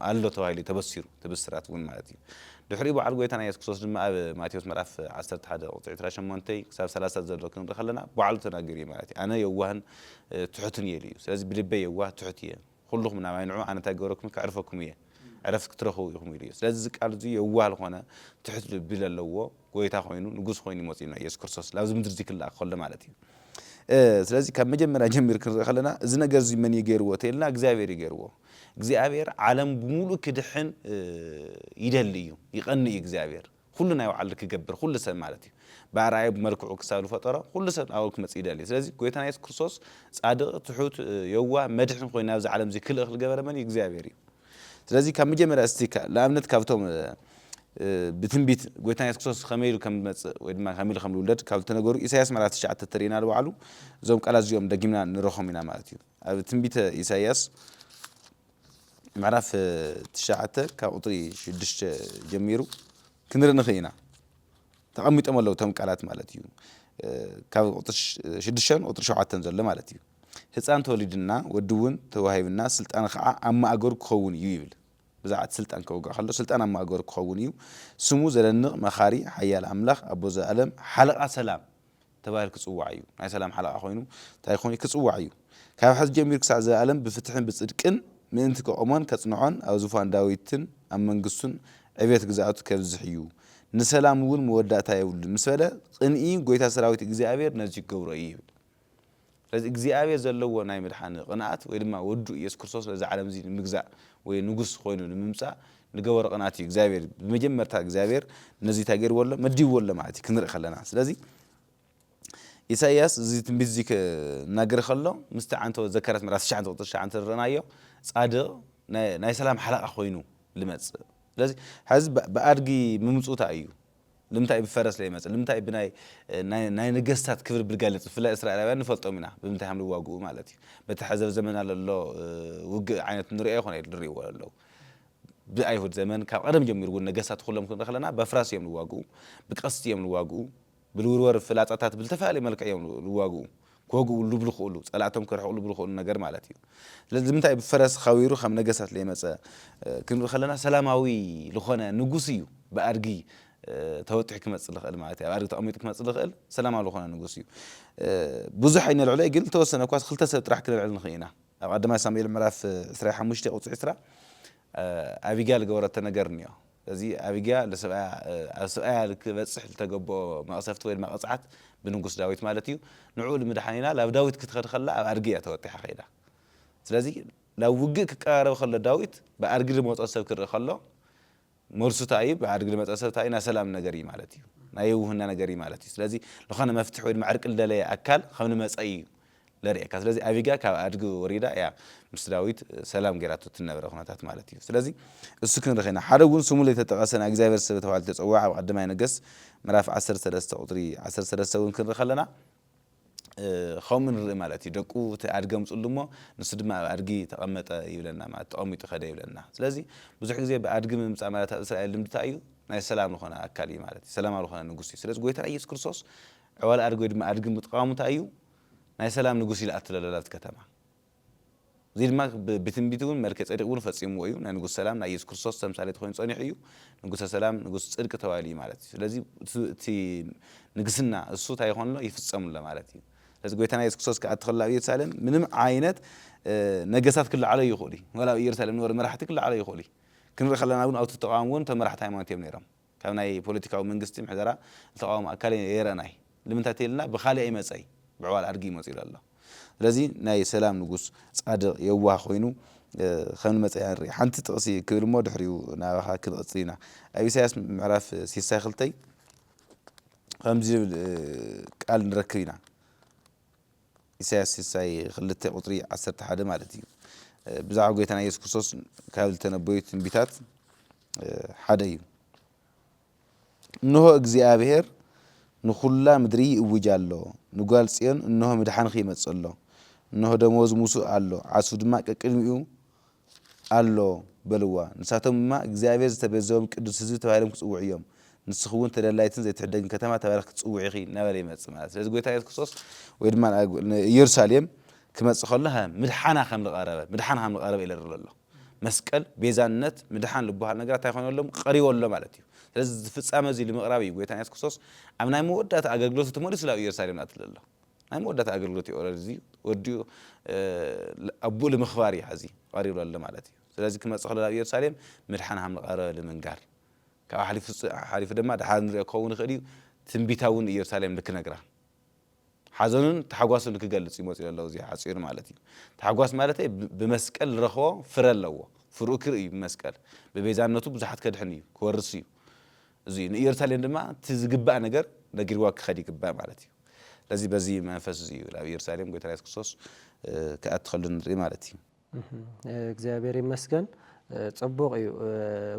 ኣሎ ተባሂሉ እዩ ተበሲሩ እቲ ብስራት እውን ማለት እዩ። ድሕሪኡ በዓል ጎይታና የሱስ ክርስቶስ ድማ ኣብ ማቴዎስ ምዕራፍ ዓሰርተ ሓደ ቁጽሪ ዕስራ ሸሞንተ ክሳብ ሰላሳ ዘሎ ክንርኢ ከለና ባዕሉ ተናጊሩ እዩ ማለት እዩ። ኣነ የዋህን ትሑትን እየ ኢሉ እዩ ስለዚ ብልበይ የዋህ ትሑት እየ ኹሉኹም ናባይ ንዑ ኣነ እንታይ ክገብረኩምን ከዕርፈኩም እየ ዕረፍቲ ክትረኽቡ ኢኹም ኢሉ እዩ ስለዚ እዚ ቃል እዚ የዋህ ልኾነ ትሑት ልቢ ለለዎ ጎይታ ኾይኑ ንጉስ ኾይኑ እዩ መፂኡና ኢየሱስ ክርስቶስ ላብዚ ምድሪ እዚ ክለኣኽ ከሎ ማለት እዩ ስለዚ ካብ መጀመርያ ጀሚሩ ክንርኢ ከለና እዚ ነገር እዚ መን እዩ ገይርዎ ተይልና እግዚኣብሔር እዩ ገይርዎ እግዚኣብሔር ዓለም ብሙሉእ ክድሕን ይደሊ እዩ ይቀኒ እዩ እግዚኣብሔር ኩሉ ናይ ባዕሉ ክገብር ኩሉ ሰብ ማለት እዩ ብኣርኣያኡ ብመልክዑ ክሳብ ዝፈጠሮ ኩሉ ሰብ ናባኡ ክመጽእ ይደሊ ስለዚ ጎይታና የሱስ ክርስቶስ ጻድቅ ትሑት የዋህ መድሕን ኮይኑ ናብዚ ዓለም እዚ ክልእኽ ዝገበረ መን እዩ እግዚኣብሔር እዩ ስለዚ ካብ መጀመርያ እስቲ ንኣብነት ካብቶም ብትንቢት ጎይታና የሱስ ክርስቶስ ከመይ ኢሉ ከም ዝመጽእ ወይ ድማ ከመይ ኢሉ ከም ዝውለድ ካብ ዝተነገሩ ኢሳያስ ምዕራፍ ትሽዓተ ተርእና ንባዕሉ እዞም ቃላት እዚኦም ደጊምና ንረኽቦም ኢና ማለት እዩ ኣብ ትንቢተ ኢሳያስ ምዕራፍ ትሽዓተ ካብ ቁፅሪ ሽዱሽተ ጀሚሩ ክንርኢ ንኽእል ኢና። ተቐሚጦም ኣለዉ እቶም ቃላት ማለት እዩ። ካብ ቁፅሪ ሽዱሽተን ቁፅሪ ሸውዓተን ዘሎ ማለት እዩ። ህፃን ተወሊድና ወዲ እውን ተዋሂብና ስልጣን ከዓ ኣብ ማእገሩ ክኸውን እዩ ይብል። ብዛዕባ እቲ ስልጣን ከወግዕ ከሎ ስልጣን ኣብ ማእገሩ ክኸውን እዩ። ስሙ ዘደንቕ፣ መኻሪ፣ ሓያል ኣምላኽ፣ ኣቦ ዘኣለም፣ ሓለቓ ሰላም ተባሂሉ ክጽዋዕ እዩ። ናይ ሰላም ሓለቓ ኮይኑ ታይ ክኾን እዩ? ክጽዋዕ እዩ። ካብ ሕዚ ጀሚሩ ክሳዕ ዘልኣለም ብፍትሕን ብጽድቅን ምእንቲ ከቑሞን ከጽንዖን ኣብ ዙፋን ዳዊትን ኣብ መንግስቱን ዕብየት ግዝኣቱ ከብዝሕ እዩ። ንሰላም እውን መወዳእታ የብሉን ምስ በለ፣ ቕንኢ ጐይታ ሰራዊት እግዚኣብሄር ነዙይ ክገብሮ እዩ ይብል። ስለዚ እግዚኣብሔር ዘለዎ ናይ ምድሓን ቕንኣት ወይ ድማ ወዱ ኢየሱስ ክርስቶስ ነዛ ዓለም እዚ ንምግዛእ ወይ ንጉስ ኾይኑ ንምምጻእ ንገበሮ ቕንኣት እዩ እግዚኣብሔር ብመጀመርታ እግዚኣብሔር ነዚ እንታይ ገርዎ ኣሎ መዲብዎ ኣሎ ማለት እዩ ክንርኢ ከለና ስለዚ ኢሳይያስ እዚ ትንቢት እዚ ክናገር ከሎ ምስቲ ዓንተወ ዘካርያስ ምዕራፍ ትሽዓተ ቁጽሪ ትሽዓተ እንተ ርኣናዮ ጻድቕ ናይ ሰላም ሓለቓ ኾይኑ ልመጽእ ስለዚ ሐዚ ብኣድጊ ምምጽኡ እንታይ እዩ ልምንታይ ብፈረስ ለይመጽእ ልምንታይ ብናይ ናይ ነገስታት ክብሪ ብልጋሊጽ ብፍላይ እስራኤላውያን ንፈልጦም ኢና ብምንታይ ሃም ልዋግኡ ማለት እዩ በቲ ሐዘብ ዘመና ለሎ ውግእ ዓይነት ንርኦ ይኮን ኣይል ድርኢዎ ለለው ብኣይሁድ ዘመን ካብ ቀደም ጀሚሩ እውን ነገስታት ኩሎም ክንርኢ ከለና በፍራስ እዮም ልዋግኡ ብቀስቲ እዮም ልዋግኡ ብልውርወር ፍላጻታት ብልተፈላለየ መልክዕ እዮም ልዋግኡ ክወግኡሉ ብልኽእሉ፣ ጸላእቶም ከርሕቕሉ ብልኽእሉ ነገር ማለት እዩ። ስለዚ ንምንታይ ብፈረስ ኻዊሩ ከም ነገሳት ለይመጸ ክንርኢ ከለና ሰላማዊ ልኾነ ንጉስ እዩ ብኣድጊ ተወጢሑ ክመጽእ ልኽእል ማለት እዩ። ኣብ ኣድጊ ተቐሚጡ ክመጽእ ልኽእል ሰላማዊ ልኾነ ንጉስ እዩ። ብዙሕ ኣይነልዕሎይ ግን ልተወሰነ እኳስ ክልተ ሰብ ጥራሕ ክነልዕል ንኽእ ኢና። ኣብ ቐዳማይ ሳሙኤል ምዕራፍ ዕስራይ ሓሙሽተ ቁጽሪ ዕስራ ኣቢጋል ልገበረቶ ነገር እንዮ። እዚ ኣቢግያ ንሰብኣያ ኣብ ሰብኣያ ንኪበጽሕ ዝተገብኦ መቕሰፍቲ ወይ ድማ ቅጽዓት ብንጉስ ዳዊት ማለት እዩ ንዕኡ ንምድሓን ኢላ ናብ ዳዊት ክትኸድ ከላ ኣብ ኣድጊ እያ ተወጢሓ ከይዳ ስለዚ ናብ ውግእ ክቀራረብ ከሎ ዳዊት ብኣድጊ ልመጾ ሰብ ክርኢ ከሎ መልሱ እንታይ እዩ ብኣድጊ ልመጸ ሰብ እንታይ እዩ ናይ ሰላም ነገር እዩ ማለት እዩ ናይ የውህና ነገር እዩ ማለት እዩ ስለዚ ልኾነ መፍትሒ ወይ ድማ ዕርቂ ልደለየ ኣካል ከም ልመጸ እዩ ለርኤካ ስለዚ ኣቢግያ ካብ ኣድጊ ወሪዳ እያ ምስ ዳዊት ሰላም ገይራቶ ትነበረ ኩነታት ማለት እዩ ስለዚ እሱ ክንርኽ ኢና ሓደ ውን ስሙ ለይተጠቀሰ ናይ እግዚኣብሔር ሰብ ተባሂሉ ተጸውዐ ኣብ ቐዳማይ ነገስት ምዕራፍ ዓሰርተ ሰለስተ ቁጽሪ ዓሰርተ ሰለስተ ውን ክንርኽ ኣለና ኸምኡ ንርኢ ማለት እዩ ደቁ እቲ ኣድጊ ኣምጽሉ እሞ ንሱ ድማ ኣብ ኣድጊ ተቐመጠ ይብለና ማለት ተቐሚጡ ከደ ይብለና ስለዚ ብዙሕ ግዜ ብኣድጊ ምምጻእ ማለት ኣብ እስራኤል ልምዲ ታይ እዩ ናይ ሰላም ልኾነ ኣካል እዩ ማለት እዩ ሰላማዊ ልኾነ ንጉስ እዩ ስለዚ ጎይታና ኢየሱስ ክርስቶስ ዕዋላ ኣድጊ ወይ ድማ ኣድጊ ምጥቃሙ ታይ እዩ ናይ ሰላም ንጉስ ኢላ እተለለላት ከተማ። እዚ ድማ ብትንቢት እውን መልከጼዴቅ እውን ፈጺምዎ እዩ። ናይ ንጉስ ሰላም ናይ ኢየሱስ ክርስቶስ ተምሳሌት ኮይኑ ጸኒሑ እዩ። ንጉሰ ሰላም ንጉስ ጽድቂ ተባሂሉ እዩ ማለት እዩ። ስለዚ እቲ ንግስና እሱ እንታይ ይኾን ኣሎ ይፍጸም ኣሎ ማለት እዩ። ስለዚ ጎይታና ኢየሱስ ክርስቶስ ክኣቲ ከሎ ኣብ ኢየሩሳሌም ምንም ዓይነት ነገስታት ክለዓሎ ይኽእሉ እዩ። ዋላ ኣብ ኢየሩሳሌም ዝነበሩ መራሕቲ ክለዓሎ ይኽእሉ እዩ። ክንርኢ ከለና እውን ኣብቲ ተቃዋሚ እውን እቶም መራሕቲ ሃይማኖት እዮም ነይሮም። ካብ ናይ ፖለቲካዊ መንግስቲ ምሕደራ ዝተቃወመ ኣካል ኣይረእናይ ልምንታይ ተይልና ብካልእ ኣይመጸይ ብዕዋል ኣድጊ መጽዩ ኢሉ ኣሎ ስለዚ ናይ ሰላም ንጉስ ጻድቅ የዋህ ኮይኑ ከምንመጸ ኢና ንርኢ ሓንቲ ጥቅሲ ክብል እሞ ድሕሪኡ ናባካ ክንቅጽል ኢና ኣብ ኢሳያስ ምዕራፍ ሲሳ ክልተይ ከምዚ ዝብል ቃል ንረክብ ኢና። ኢሳያስ ሲሳይ ክልተ ቁጽሪ ዓሰርተ ሓደ ማለት እዩ ብዛዕባ ጎይታና ኢየሱስ ክርስቶስ ካብ ዝተነበዩ ትንቢታት ሓደ እዩ እንሆ እግዚኣብሔር ንኩላ ምድሪ ይእውጅ ኣሎ ንጓል ጽዮን እንሆ ምድሓንኺ ይመጽእ ኣሎ እንሆ ደመወዝ ሙሱ ኣሎ ዓስቡ ድማ ቀቅድሚኡ ኣሎ በልዋ። ንሳቶም ድማ እግዚኣብሄር ዝተቤዘዎም ቅዱስ ህዝቢ ተባሂሎም ክጽውዑ እዮም። ንስኺ እውን ተደላይትን ዘይትሕደግን ከተማ ተባሂልኪ ክትጽውዒ ኢኺ እናበለ ይመጽእ ማለት እዩ። ስለዚ ጎይታ ኢየሱስ ክርስቶስ ወይ ድማ ንኢየሩሳሌም ክመጽእ ከሎ ምድሓና ከም ዝቐረበ ምድሓን ከም ዝቐረበ ይለርሎ ኣሎ። መስቀል፣ ቤዛነት፣ ምድሓን ልበሃል ነገራት እንታይ ኮይኑ ኣሎ ቀሪቡ ኣሎ ማለት እዩ። ስለዚ እዚ ፍጻመ እዚ ንምቕራብ እዩ ጎይታና ኢየሱስ ክርስቶስ ኣብ ናይ መወዳእታ ኣገልግሎቱ ተመሊሱ ናብ ኢየሩሳሌም ዝኣትል ዘሎ። ናይ መወዳእታ ኣገልግሎት እዩ ኦረድዚ ወዲኡ ኣቡኡ ልምኽባር እዩ ሐዚ ቐሪቡ ለሎ ማለት እዩ ስለዚ ክመፅእ ከሎ ናብ ኢየሩሳሌም ምድሓን ሃም ልቐረበ ልምንጋር ካብኡ ሓሊፉ ሓሊፉ ድማ ድሓር ንሪኦ ክኸውን ይኽእል እዩ ትንቢታ እውን ኢየሩሳሌም ልክነግራ ሓዘኑን ታሕጓሱን ልክገልፅ እዩ መፂኡ ለሎ እዚኣ ሓፂሩ ማለት እዩ ታሕጓስ ማለተይ ብመስቀል ልረኽቦ ፍረ ኣለዎ ፍርኡ ክርኢ እዩ ብመስቀል ብቤዛነቱ ብዙሓት ከድሕን እዩ ክወርስ እዩ እዙይ እዩ ንኢየሩሳሌም ድማ እቲ ዝግባእ ነገር ነጊርዋ ክኸድ ይግባእ ማለት እዩ ስለዚ በዚ መንፈስ እዚ እዩ ናብ ኢየሩሳሌም ጎይታና ኢየሱስ ክርስቶስ ክኣቲ ከሎ ንርኢ ማለት እዩ። እግዚኣብሔር ይመስገን ጽቡቕ እዩ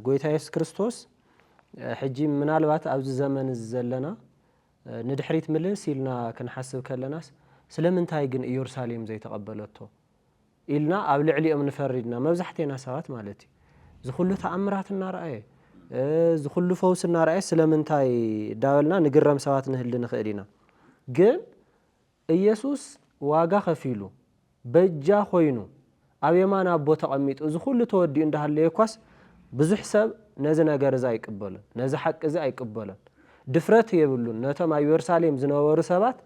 ጎይታ ኢየሱስ ክርስቶስ ሕጂ ምናልባት ኣብዚ ዘመን እዚ ዘለና ንድሕሪት ምልስ ኢልና ክንሓስብ ከለናስ ስለምንታይ ግን ኢየሩሳሌም ዘይተቐበለቶ ኢልና ኣብ ልዕሊኦም ንፈርድ ኢና መብዛሕቴና ሰባት ማለት እዩ እዚ ኩሉ ተኣምራት እናረኣየ እዚ ኩሉ ፈውሲ እናረኣየ ስለምንታይ እዳበልና ንግረም ሰባት ንህሊ ንኽእል ኢና ግን ኢየሱስ ዋጋ ከፊሉ በጃ ኮይኑ ኣብ የማን ኣቦ ተቐሚጡ እዚ ኩሉ ተወዲኡ እንዳሃለየ እኳስ ብዙሕ ሰብ ነዚ ነገር እዚ ኣይቅበሎን ነዚ ሓቂ እዚ ኣይቅበሎን ድፍረት የብሉን ነቶም ኣብ የሩሳሌም ዝነበሩ ሰባት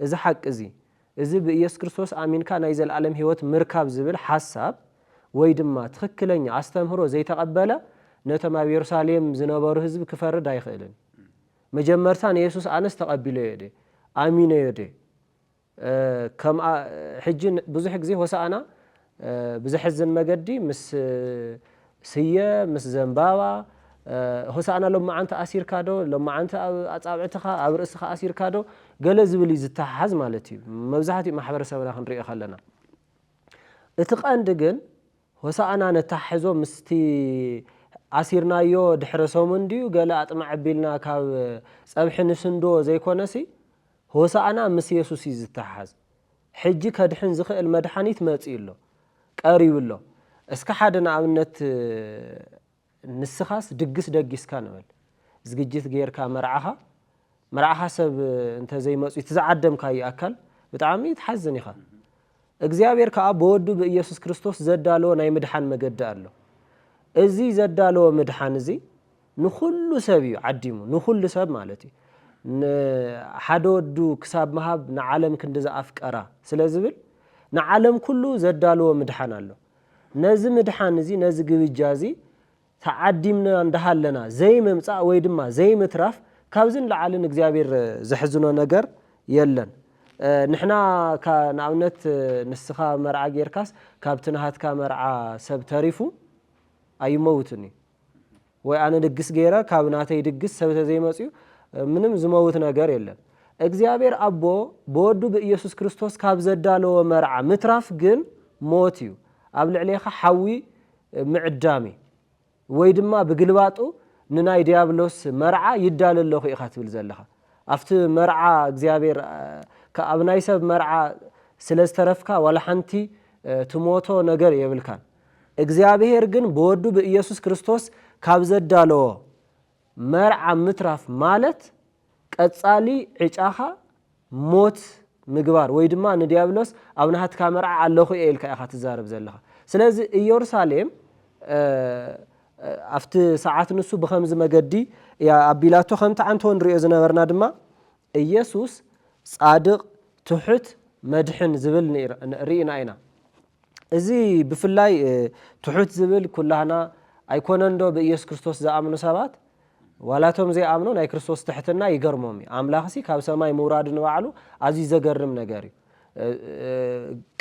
እዚ ሓቂ እዚ እዚ ብኢየሱስ ክርስቶስ ኣሚንካ ናይ ዘለኣለም ሕይወት ምርካብ ዝብል ሓሳብ ወይ ድማ ትኽክለኛ ኣስተምህሮ ዘይተቐበለ ነቶም ኣብ የሩሳሌም ዝነበሩ ሕዝቢ ክፈርድ ኣይኽእልን። መጀመርታ ንየሱስ ኣነስ ተቐቢለዮ ድየ? ኣሚነዮ ድየ? ከምኣ ሕጂ ብዙሕ ግዜ ሆሳእና ብዘሕዝን መገዲ ምስ ስየ ምስ ዘንባባ ሆሳእና ሎማዓንቲ ኣሲርካ ዶ ሎማዓንቲ ኣብ ኣጻብዕትኻ ኣብ ርእስኻ ኣሲርካ ዶ ገለ ዝብል እዩ ዝተሓሓዝ ማለት እዩ መብዛሕትኡ ማሕበረሰብና ክንሪኦ ከለና እቲ ቀንዲ ግን ሆሳእና ነተሓሕዞ ምስቲ ኣሲርናዮ ድሕሪ ሰሙን ድዩ ገለ ኣጥማዕ ኣቢልና ካብ ጸብሒ ንስንዶ ዘይኮነሲ ሆሳእና ምስ የሱስ እዩ ዝተሓሓዝ ሕጂ ከድሕን ዝኽእል መድሓኒት መጺኡ ኣሎ ቀሪቡ ኣሎ እስከ ሓደ ንኣብነት ንስኻስ ድግስ ደጊስካ ንበል ዝግጅት ጌርካ መርዓኻ መርዓኻ ሰብ እንተዘይመጹ እቲ ዝዓደምካዩ ኣካል ብጣዕሚ ትሓዝን ኢኻ እግዚኣብሔር ከኣ ብወዱ ብኢየሱስ ክርስቶስ ዘዳለዎ ናይ ምድሓን መገዲ ኣሎ እዚ ዘዳለዎ ምድሓን እዚ ንኹሉ ሰብ እዩ ዓዲሙ ንኹሉ ሰብ ማለት እዩ ን ሓደ ወዱ ክሳብ ምሃብ ንዓለም ክንድዚ ኣፍቀራ ስለ ዝብል ንዓለም ኩሉ ዘዳለዎ ምድሓን ኣሎ ነዚ ምድሓን እዚ ነዚ ግብጃ እዚ ተዓዲምና እንዳሃለና ዘይምምጻእ ወይ ድማ ዘይምትራፍ ካብዚ ንላዕሊ ንእግዚኣብሔር ዘሕዝኖ ነገር የለን ንሕና ካብ ንኣብነት ንስኻ መርዓ ጌርካስ ካብቲ ናሃትካ መርዓ ሰብ ተሪፉ ኣይመውትን እዩ ወይ ኣነ ድግስ ገይረ ካብ ናተይ ድግስ ሰብ ተዘይመፅዩ ምንም ዝመውት ነገር የለን። እግዚኣብሔር ኣቦ ብወዱ ብኢየሱስ ክርስቶስ ካብ ዘዳለዎ መርዓ ምትራፍ ግን ሞት እዩ፣ ኣብ ልዕሌኻ ሓዊ ምዕዳም እዩ። ወይ ድማ ብግልባጡ ንናይ ዲያብሎስ መርዓ ይዳለ ኣለኹ ኢኻ ትብል ዘለኻ። ኣብቲ መርዓ እግዚኣብሔር ኣብ ናይ ሰብ መርዓ ስለ ዝተረፍካ ዋላ ሓንቲ ትሞቶ ነገር የብልካን። እግዚኣብሔር ግን ብወዱ ብኢየሱስ ክርስቶስ ካብ ዘዳለዎ መርዓ ምትራፍ ማለት ቀጻሊ ዕጫኻ ሞት ምግባር ወይ ድማ ንዲያብሎስ ኣብ ናህትካ መርዓ ኣለኹ እየ ኢልካ ኢኻ ትዛረብ ዘለኻ ስለዚ ኢየሩሳሌም ኣብቲ ሰዓት ንሱ ብከምዚ መገዲ እያ ኣቢላቶ ከምቲ ዓንተወ ንሪኦ ዝነበርና ድማ እየሱስ ጻድቅ ትሑት መድሕን ዝብል ሪኢና ኢና እዚ ብፍላይ ትሑት ዝብል ኩላህና ኣይኮነን ዶ ብእየሱስ ክርስቶስ ዝኣምኑ ሰባት ዋላ እቶም ዘይኣምኑ ናይ ክርስቶስ ትሕትና ይገርሞም እዩ ኣምላኽሲ ካብ ሰማይ ምውራዱ ንባዕሉ ኣዝዩ ዘገርም ነገር እዩ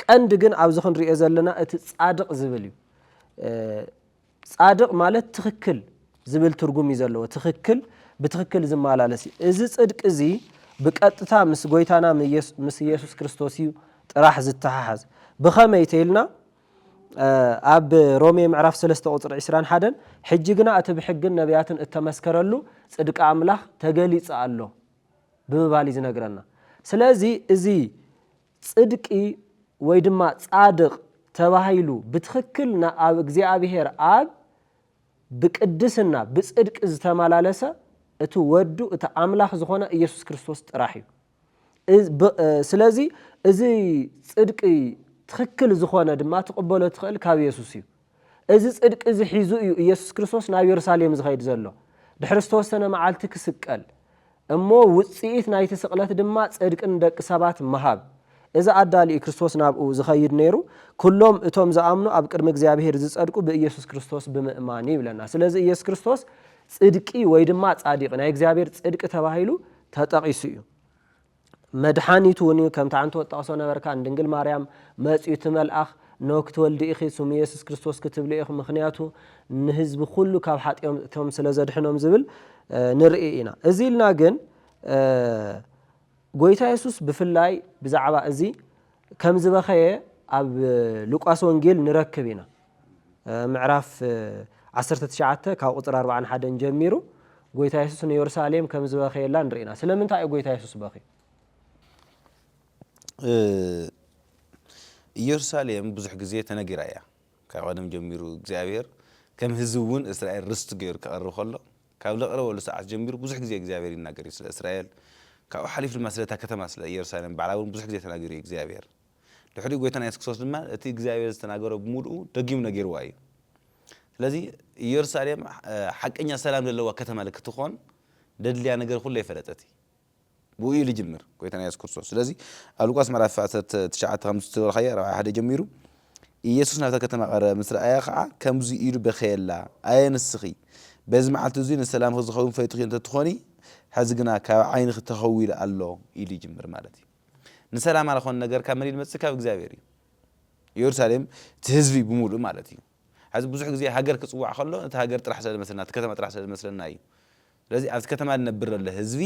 ቀንዲ ግን ኣብዚ ክንሪኦ ዘለና እቲ ጻድቅ ዝብል እዩ ጻድቕ ማለት ትኽክል ዝብል ትርጉም እዩ ዘለዎ፣ ትኽክል ብትኽክል ዝመላለስ እዩ። እዚ ጽድቂ እዚ ብቀጥታ ምስ ጎይታና ምስ ኢየሱስ ክርስቶስ እዩ ጥራሕ ዝተሓሓዝ። ብኸመይ ተይልና ኣብ ሮሜ ምዕራፍ ሰለስተ ቁጽሪ ዕስራን ሓደን ሕጂ ግና እቲ ብሕግን ነቢያትን እተመስከረሉ ጽድቂ ኣምላኽ ተገሊጸ ኣሎ ብምባል እዩ ዝነግረና። ስለዚ እዚ ጽድቂ ወይ ድማ ጻድቕ ተባሂሉ ብትኽክል ንኣብ እግዚኣብሔር ኣብ ብቅድስና ብጽድቂ ዝተመላለሰ እቲ ወዱ እቲ ኣምላኽ ዝኾነ ኢየሱስ ክርስቶስ ጥራሕ እዩ። ስለዚ እዚ ጽድቂ ትኽክል ዝኾነ ድማ ትቕበሎ ትኽእል ካብ ኢየሱስ እዩ። እዚ ጽድቂ እዚ ሒዙ እዩ ኢየሱስ ክርስቶስ ናብ የሩሳሌም ዝኸይድ ዘሎ፣ ድሕሪ ዝተወሰነ መዓልቲ ክስቀል፣ እሞ ውጽኢት ናይቲ ስቕለት ድማ ጽድቂ ንደቂ ሰባት ምሃብ። እዚ ኣዳሊ እዩ ክርስቶስ ናብኡ ዝኸይድ ነይሩ፣ ኩሎም እቶም ዝኣምኑ ኣብ ቅድሚ እግዚኣብሔር ዝጸድቁ ብኢየሱስ ክርስቶስ ብምእማን እዩ ይብለና። ስለዚ ኢየሱስ ክርስቶስ ጽድቂ ወይ ድማ ጻዲቅ ናይ እግዚኣብሔር ጽድቂ ተባሂሉ ተጠቂሱ እዩ። መድሓኒት እውን እዩ ከምቲ ኣንተ ወጠቅሶ ነበርካ ንድንግል ማርያም መጽዩ እቲ መልኣኽ እነሆ ክትወልዲ ኢኺ ስሙ የሱስ ክርስቶስ ክትብልዮ ኢኺ ምኽንያቱ ንህዝቢ ኩሉ ካብ ሓጥዮም ስለ ዘድሕኖም ዝብል ንርኢ ኢና እዚ ኢልና ግን ጎይታ የሱስ ብፍላይ ብዛዕባ እዚ ከም ዝበኸየ ኣብ ሉቃስ ወንጌል ንረክብ ኢና። ምዕራፍ ዓሰርተ ትሽዓተ ካብ ቁፅሪ ኣርብዓን ሓደን ጀሚሩ ጎይታ የሱስ ንዮርሳሌም ከም ዝበኸየላ ንርኢ ኢና። ስለምንታይ እዩ ጎይታ የሱስ በኽዩ? ኢዮርሳሌም ብዙሕ ግዜ ተነጊራ እያ። ካብ ቀደም ጀሚሩ እግዚኣብሔር ከም ህዝቢ እውን እስራኤል ርስቱ ገይሩ ከቕርብ ከሎ ካብ ዘቕረበሉ ሰዓት ጀሚሩ ብዙሕ ግዜ እግዚኣብሔር ይናገር እዩ ስለ እስራኤል ካብኡ ሓሊፉ ድማ ስለ እታ ከተማ ስለ ኢየሩሳሌም ባዕላ እውን ብዙሕ ግዜ ተናጊሩ እዩ እግዚኣብሔር ድሕሪኡ ጎይታና ኢየሱስ ክርስቶስ ድማ እቲ እግዚኣብሔር ዝተናገሮ ብምሉኡ ደጊሙ ነጊርዋ እዩ ስለዚ ኢየሩሳሌም ሓቀኛ ሰላም ደለዋ ከተማ ልክትኾን ደድልያ ነገር ኩለ ይፈለጠት እዩ ብኡ እዩ ልጅምር ጎይታና ኢየሱስ ክርስቶስ ስለዚ ኣብ ሉቃስ ምዕራፍ ዓሰርተ ትሽዓተ ከም ዝተበልኻያ ራብዓ ሓደ ጀሚሩ ኢየሱስ ናብታ ከተማ ቀረበ ምስ ረኣያ ከዓ ከምዚ ኢሉ በኸየላ ኣየ ንስኺ በዚ መዓልቲ እዙይ ንሰላምኺ ዝኸውን ፈይትኺ እንተትኾኒ ሕዚ ግና ካብ ዓይንኺ ተኸዊሉ ኣሎ ኢሉ ይጅምር ማለት እዩ ንሰላማ ዝኾነ ነገር ካብ መን ይመፅእ ካብ እግዚኣብሔር እዩ ኢየሩሳሌም እቲ ህዝቢ ብምሉእ ማለት እዩ ሕዚ ብዙሕ ግዜ ሃገር ክፅዋዕ ከሎ ነቲ ሃገር ጥራሕ ስለ ዝመስለና እቲ ከተማ ጥራሕ ስለ ዝመስለና እዩ ስለዚ ኣብቲ ከተማ ዝነብር ዘሎ ህዝቢ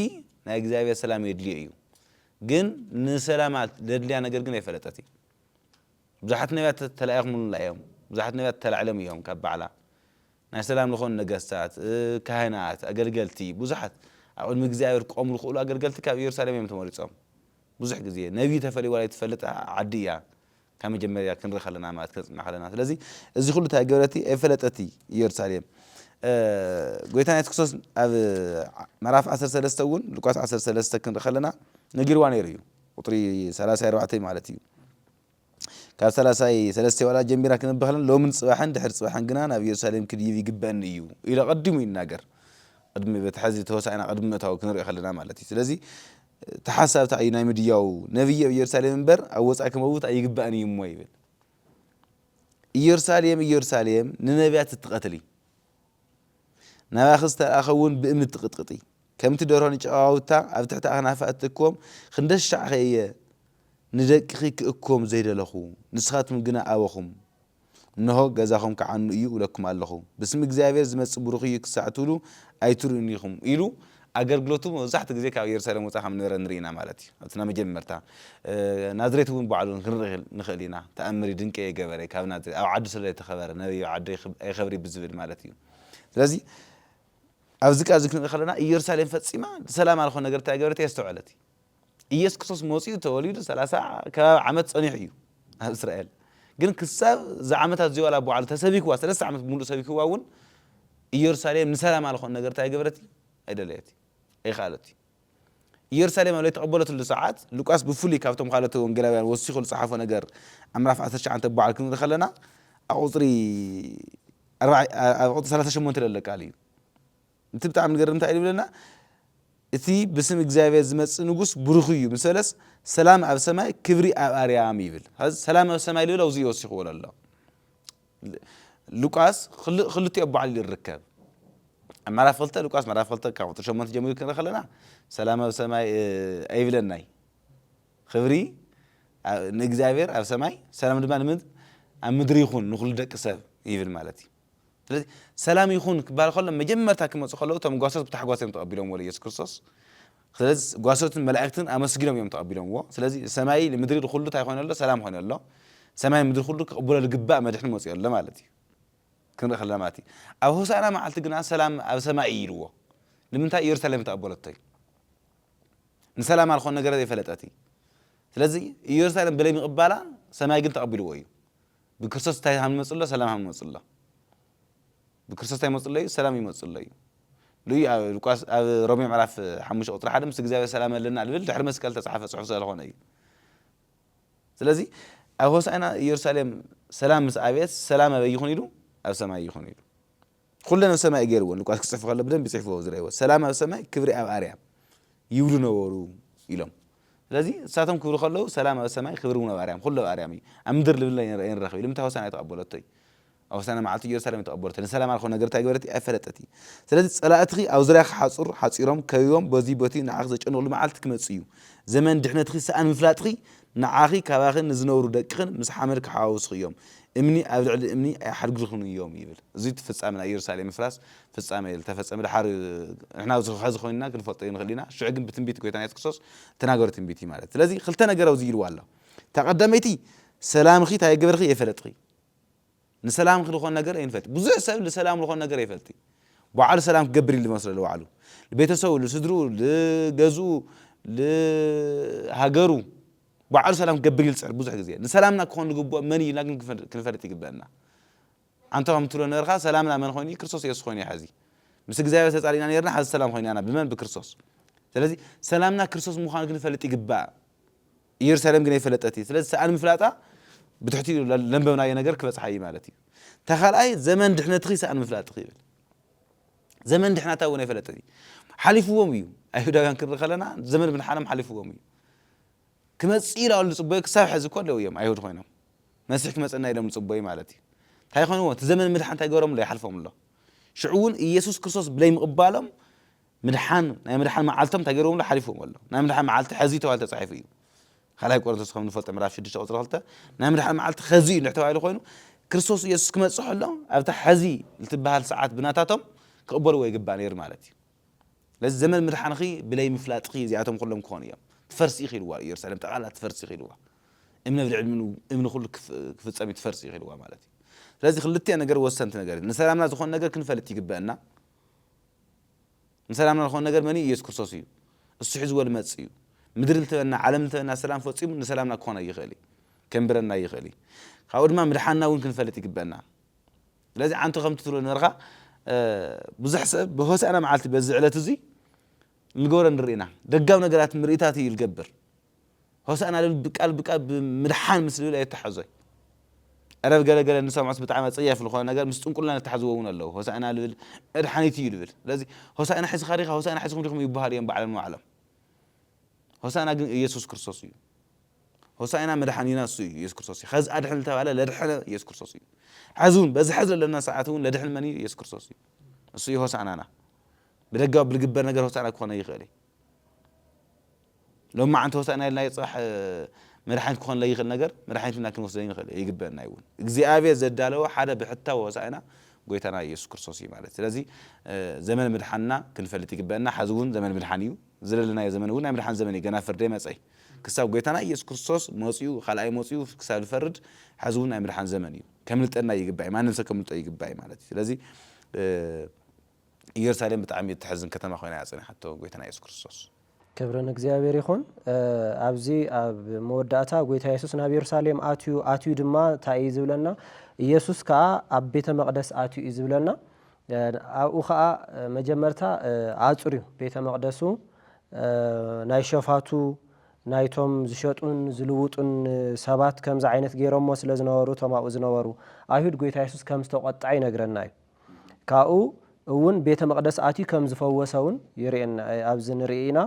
ናይ እግዚኣብሔር ሰላም የድልዮ እዩ ግን ንሰላማ ዘድልያ ነገር ግን ኣይፈለጠት እዩ ብዙሓት ነቢያት ተላኢኹምልና እዮም ብዙሓት ነቢያት ተላዕሎም እዮም ካብ ባዕላ ናይ ሰላም ዝኾኑ ነገስታት ካህናት ኣገልገልቲ ብዙሓት ኣብ ቅድሚ እግዚኣብሔር ክቆሙ ዝኽእሉ ኣገልገልቲ ካብ ኢየሩሳሌም እዮም ተመሪጾም ብዙሕ ግዜ ነቢይ ተፈልዩ ዋላ ኣይትፈልጥ ዓዲ እያ ካብ መጀመርያ ክንሪ ከለና ማለት ክንጽና ከለና ስለዚ እዚ ኩሉ ታይ ገበረቲ ኣይፈለጠቲ ኢየሩሳሌም ጎይታና የሱስ ክርስቶስ ኣብ ምዕራፍ ዓሰርተ ሰለስተ እውን ሉቃስ ዓሰርተ ሰለስተ ክንሪ ከለና ነጊርዋ ነይሩ እዩ ቁጥሪ ሰላሳይ ኣርባዕተይ ማለት እዩ ካብ ሰላሳይ ሰለስተ ዋላ ጀሚራ ክንብብ ከለና ሎምን ጽባሕን ድሕሪ ጽባሕን ግና ናብ ኢየሩሳሌም ክድይብ ይግበአኒ እዩ ኢሉ ኣቐዲሙ ይናገር ቅድሚ በቲ ሕዚ ተወሳኢና ቅድሚ ምእታው ክንሪኦ ከለና ማለት እዩ ስለዚ እቲ ሓሳብ እንታይ እዩ ናይ ምድያዉ? ነብዪ ኣብ ኢየሩሳሌም እምበር ኣብ ወጻኢ ክመውት ኣይግባእን እዩ እሞ ይብል። ኢየሩሳሌም ኢየሩሳሌም ንነብያት እትቐትሊ፣ ናባኺ ዝተላእከ እውን ብእምኒ እትቕጥቕጢ፣ ከምቲ ደርሆ ንጨቓውታ ኣብ ትሕቲ ኣኽናፋ እትእክቦም፣ ክንደሻዕከ እየ ንደቅኺ ክእክቦም ዘይደለኹ፣ ንስኻትኩም ግና ኣበኹም። እንሆ ገዛኹም ክዓኑ እዩ እብለኩም ኣለኹ። ብስም እግዚኣብሄር ዝመጽእ ብሩኽ እዩ ክሳዕ ትብሉ ኣይትርእዩን ኢኹም ኢሉ ኣገልግሎቱ መብዛሕትኡ ግዜ ካብ የሩሳሌም ወጻኢ ከም ዝነበረ ንርኢ ኢና ማለት እዩ። ኣብቲ ናይ መጀመርታ ናዝሬት እውን ባዕሉ ክንርኢ ንኽእል ኢና። ተኣምር እዩ ድንቂ እየ ገበረ ካብ ናዝሬት ኣብ ዓዱ ስለ ዘይተኸበረ ነቢይ ኣብ ዓዱ ኣይኸብር እዩ ብዝብል ማለት እዩ። ስለዚ ኣብዚ ቃል እዚ ክንርኢ ከለና ኢየሩሳሌም ፈጺማ ሰላም ኣልኾ ነገር እንታይ ገበረት እያ ኣስተውዐለት። ኢየሱስ ክርስቶስ መጺኡ ተወሊዱ ሰላሳ ከባቢ ዓመት ጸኒሑ እዩ ኣብ እስራኤል ግን ክሳብ እዛ ዓመታት እዚኦ ላ በዓሉ ተሰቢክዋ ሰለስተ ዓመት ብምሉእ ሰቢክዋ እውን ኢየሩሳሌም ንሰላም ኣልኾን ነገር እንታይ ገበረት እዩ ኣይደለየት እዩ ኣይኸኣለት እዩ ኢየሩሳሌም ኣብ ተቐበለትሉ ሰዓት ሉቃስ ብፍሉይ ካብቶም ካልኦት ወንጌላውያን ወሲኹ ዝጸሓፎ ነገር ኣብ ምዕራፍ 19 በዓል ክንርኢ ከለና ኣብ ቁፅሪ ኣብ ቁፅሪ 38 ለለቃል እዩ እቲ ብጣዕሚ ዝገርም እንታይ እዩ ዝብለና እቲ ብስም እግዚኣብሔር ዝመጽእ ንጉስ ብሩክ እዩ ምስ በለስ ሰላም ኣብ ሰማይ ክብሪ ኣብ ኣርያም ይብል ስለዚ ሰላም ኣብ ሰማይ ልብል ኣውዚ ወሲኽዎ ኣሎ ሉቃስ ክልቲኦ ኣቦዓል ይርከብ ኣብ ምዕራፍ ክልተ ሉቃስ ምዕራፍ ክልተ ካብ ቁጥሪ ሸሞንተ ጀሚሩ ክንርኢ ከለና ሰላም ኣብ ሰማይ ኣይብለናይ ክብሪ ንእግዚኣብሔር ኣብ ሰማይ ሰላም ድማ ኣብ ምድሪ ይኹን ንኹሉ ደቂ ሰብ ይብል ማለት እዩ ስለዚ ሰላም ይኹን ክበሃል ከሎ መጀመርታ ክመጹ ከለዉ እቶም ጓሶት ብታሕጓስ እዮም ተቐቢሎምዎ ንየሱስ ክርስቶስ። ስለዚ ጓሶትን መላእክትን ኣመስጊኖም እዮም ተቐቢሎምዎ። ስለዚ ሰማይ ንምድሪ ንኹሉ እንታይ ኮይኑ ኣሎ? ሰላም ኮይኑ ኣሎ። ሰማይ ንምድሪ ኩሉ ክቕበሎ ዝግባእ መድሕን መጺኡ ኣሎ ማለት እዩ። ክንርኢ ከለና ማለት እዩ። ኣብ ሆሳእና መዓልቲ ግና ሰላም ኣብ ሰማይ እዩ ኢልዎ። ንምንታይ? ኢየሩሳሌም ተቐበለቶ እዩ። ንሰላማ ዝኾነ ነገር ዘይፈለጠት እዩ። ስለዚ ኢየሩሳሌም ብለይ ምቕባላ ሰማይ ግን ተቐቢልዎ እዩ። ብክርስቶስ እንታይ ሃምመጹ ኣሎ ሰላም ሃምመጹ ኣሎ ብክርስቶስ እንታይ ይመጹ ኣሎ እዩ ሰላም ይመጹ ኣሎ እዩ ልዩ ኣብ ሉቃስ ኣብ ሮሜ ምዕራፍ ሓሙሽተ ቁጽሪ ሓደ ምስ እግዚኣብሔር ሰላም ኣለና ልብል ድሕሪ መስቀል ተጻሓፈ ጽሑፍ ስለዝኾነ እዩ ስለዚ ኣብ ሆሳዕና ኢየሩሳሌም ሰላም ምስ ኣቤት ሰላም ኣበይ ይኹን ኢሉ ኣብ ሰማይ ይኹን ኢሉ ኹለን ኣብ ሰማይ እዩ ገይርወን ሉቃስ ክጽሕፍ ከሎ ብደንቢ ጽሕፍዎ እዚ ረእይዎ ሰላም ኣብ ሰማይ ክብሪ ኣብ ኣርያም ይብሉ ነበሩ ኢሎም ስለዚ ንሳቶም ክብሉ ከለዉ ሰላም ኣብ ሰማይ ክብሪ እውን ኣብ ኣርያም ኩሉ ኣብ ኣርያም እዩ ኣብ ምድር ልብለ ኣይንረኽብ ኢሉ ምንታይ ሆሳና ተቐበለቶ እዩ ኣብ ሆሳና መዓልቲ ኢየሩሳሌም እዩ ተቐበለቶ ንሰላም ኣልኮ ነገር እንታይ ገበረት ኣይፈለጠት እዩ ስለዚ ጸላእትኺ ኣብ ዙርያኺ ሓጹር ሓጺሮም ከቢቦም በዚ በቲ ንዓኺ ዘጨንቕሉ መዓልቲ ክመጽእ እዩ ዘመን ድሕነትኺ ሰኣን ምፍላጥኺ ንዓኺ ካባኺ ንዝነብሩ ደቅኽን ምስ ሓመድ ክሓዋውሱኺ እዮም፣ እምኒ ኣብ ልዕሊ እምኒ ኣይሓድግርክን እዮም ይብል። እዚ እቲ ፍጻሜ ናይ ኢየሩሳሌም ምፍራስ ፍጻሜ እዩ ዝተፈጸመ ድሓር እዩ ንሕና ኣብዚ ሐዚ ኮይንና ክንፈልጦ ይንኽእል ኢና ሽዑ ግን ብትንቢት ጎይታና የሱስ ክርስቶስ ዝተናገሮ ትንቢት እዩ ማለት ስለዚ ክልተ ነገር ኣብዚ ኢልዋ ኣሎ እታ ቀዳመይቲ ሰላምኺ እንታይ ይገበርኺ የፈለጥኺ ንሰላም ኽልኾን ነገር ኣይንፈልቲ ብዙሕ ሰብ ልሰላም ልኾን ነገር ኣይፈልቲ ባዓሉ ሰላም ክገብር እዩ ልመስሎ ልባዕሉ ልቤተሰቡ ልስድርኡ ልገዝኡ ልሃገሩ ባዓሉ ሰላም ክገብር እዩ ልጽዕር ብዙሕ ግዜ ንሰላምና ክኾን ልግብኦ መን እዩ ኢልና ግን ክንፈልጥ ይግበእና ኣንተ ከም ትብሎ ነበርካ ሰላምና መን ኾይኑ እዩ ክርስቶስ የሱስ ኾይኑ እዩ ሐዚ ምስ እግዚኣብሔር ተጻሊእና ኔርና ሐዚ ሰላም ኾይናና ብመን ብክርስቶስ ስለዚ ሰላምና ክርስቶስ ምዃኑ ክንፈልጥ ይግባእ ኢየሩሳሌም ግን ኣይፈለጠት እዩ ስለዚ ሰኣን ምፍላጣ ብትሕቲኡ ለንበብናዮ ነገር ክበጽሓ እዩ ማለት እዩ እታ ካልኣይ ዘመን ድሕነትኺ ሰኣን ምፍላጥኺ ይብል ዘመን ድሕናታ እውን ኣይፈለጠት እዩ ሓሊፍዎም እዩ ኣይሁዳውያን ክንርኢ ከለና ዘመን ምድሓኖም ሓሊፍዎም እዩ ክመጽእ ኢላ ዝጽበዩ ክሳብ ሕዚ እኮ ኣለዉ እዮም ኣይሁድ ኮይኖም መሲሕ ክመጸና ኢሎም ዝጽበዩ ማለት እዩ እንታይ ይኾንዎ እቲ ዘመን ምድሓን እንታይ ገሮም ኣሎ ይሓልፎም ኣሎ ሽዑ እውን ኢየሱስ ክርስቶስ ብለይ ምቕባሎም ምድሓን ናይ ምድሓን መዓልቶም እንታይ ገይርዎምሉ ሓሊፍዎም ኣሎ ናይ ምድሓን መዓልቲ ሐዚ ተባሂሉ ተጻሒፉ እዩ ካልኣይ ቆሮንቶስ ከም ንፈልጦ ምዕራፍ 6 ቁጽሪ 2 ናይ ምድሓን መዓልቲ ሐዚ እዩ ተባሂሉ ኮይኑ ክርስቶስ ኢየሱስ ክመጽእ ከሎ ኣብታ ሐዚ ልትበሃል ሰዓት ብናታቶም ክቕበልዎ ይግባእ ነይሩ ማለት እዩ ስለዚ ዘመን ምድሓንኺ ብለይ ምፍላጥኺ እዚኣቶም ኩሎም ክኾኑ እዮም ትፈርሲ ኢኺ ኢልዋ ኢየሩሳሌም ጠቕላላ ትፈርሲ ኢኺ ኢልዋ እምነ ብልዕሊ እምኒ ኩሉ ክፍጸም እዩ ትፈርሲ ኢኺ ኢልዋ ማለት እዩ ስለዚ ክልቲኣ ነገር ወሰንቲ ነገር ንሰላምና ዝኾነ ነገር ክንፈልጥ ይግበአና ንሰላምና ዝኾነ ነገር መን እዩ? ኢየሱስ ክርስቶስ እዩ። እሱ ሒዝዎ ልመጽእ እዩ። ምድሪ ልትበና ዓለም ልትበና ሰላም ፈጺሙ ንሰላምና ክኾን ኣይኽእል እዩ። ከንብረና ኣይኽእል እዩ። ካብኡ ድማ ምድሓንና እውን ክንፈልጥ ይግበእና። ስለዚ ሓንቲ ከምቲ ትብሎ ነበርካ ብዙሕ ሰብ ብሆሳእና መዓልቲ በዚ ዕለት እዙይ ልገብሮ ንርኢ ኢና። ደጋዊ ነገራት ምርኢታት እዩ ልገብር። ሆሳእና ልብል ብቃል ብቃል ብምድሓን ምስ ልብል ኣየተሓዞይ ዕረብ ገለ ገለ ንሰምዖስ ብጣዕሚ ኣጸያፊ ልኾነ ነገር ምስ ጥንቁልና ለተሓዝዎ ውን ኣለዉ ሆሳእና ልብል መድሓኒት ኢዩ ልብል ስለዚ ሆሳእና ሒዝኻ ዲኻ ሆሳእና ሒዝኩም ዲኹም ይበሃሉ ኢዮም ባዕሎም ንባዕሎም ሆሳእና ግን እየሱስ ክርስቶስ እዩ ሆሳእና መድሓኒና እሱ እዩ ኢየሱስ ክርስቶስ እዩ ኸዚ ኣድሕን ዝተባለ ለድሐነ ኢየሱስ ክርስቶስ እዩ ሐዚ እውን በዚ ሐዚ ለለና ሰዓት እውን ለድሕን መን እዩ ኢየሱስ ክርስቶስ እዩ እሱ እዩ ሆሳእናና ብደጋዊ ብልግበር ነገር ሆሳእና ክኾነ ይኽእል እዩ ሎማዓንቲ ሆሳእና ኢልናዮ ፅባሕ መድሓኒት ክኾን ለይኽእል ነገር መድሓኒት ኢልና ክንወስዶ ኣይንኽእል ኣይግበእና እውን እግዚኣብሔር ዘዳለወ ሓደ ብሕታዊ ሆሳእና ጎይታና ኢየሱስ ክርስቶስ እዩ ማለት ስለዚ ዘመን ምድሓንና ክንፈልጥ ይግበእና ሓዚ እውን ዘመን ምድሓን እዩ ዝለለናዮ ዘመን እውን ናይ ምድሓን ዘመን እዩ ገና ፍርዲ ኣይመፀይ ክሳብ ጎይታና ኢየሱስ ክርስቶስ መፅኡ ካልኣይ መፅኡ ክሳብ ዝፈርድ ሓዚ እውን ናይ ምድሓን ዘመን እዩ ከምልጠና ይግባእ ማንም ሰብ ከምልጦ ይግባእ ማለት እዩ ስለዚ ኢየሩሳሌም ብጣዕሚ እተሕዝን ከተማ ኮይና እያ ጸኒሓቶ ጎይታና ኢየሱስ ክርስቶስ። ክብሪ ንእግዚኣብሔር ይኹን። ኣብዚ ኣብ መወዳእታ ጎይታ የሱስ ናብ የሩሳሌም ኣትዩ፣ ኣትዩ ድማ እንታይ እዩ ዝብለና? ኢየሱስ ከኣ ኣብ ቤተ መቕደስ ኣትዩ እዩ ዝብለና። ኣብኡ ከኣ መጀመርታ ኣጽርዩ ቤተ መቕደሱ ናይ ሸፋቱ ናይቶም ዝሸጡን ዝልውጡን ሰባት ከምዚ ዓይነት ገይሮሞ ስለ ዝነበሩ እቶም ኣብኡ ዝነበሩ ኣይሁድ ጎይታ የሱስ ከም ዝተቖጥዐ ይነግረና እዩ። ካብኡ እውን ቤተ መቕደስ ኣትዩ ከም ዝፈወሰ እውን ይርእየና ኣብዚ ንርኢ ኢና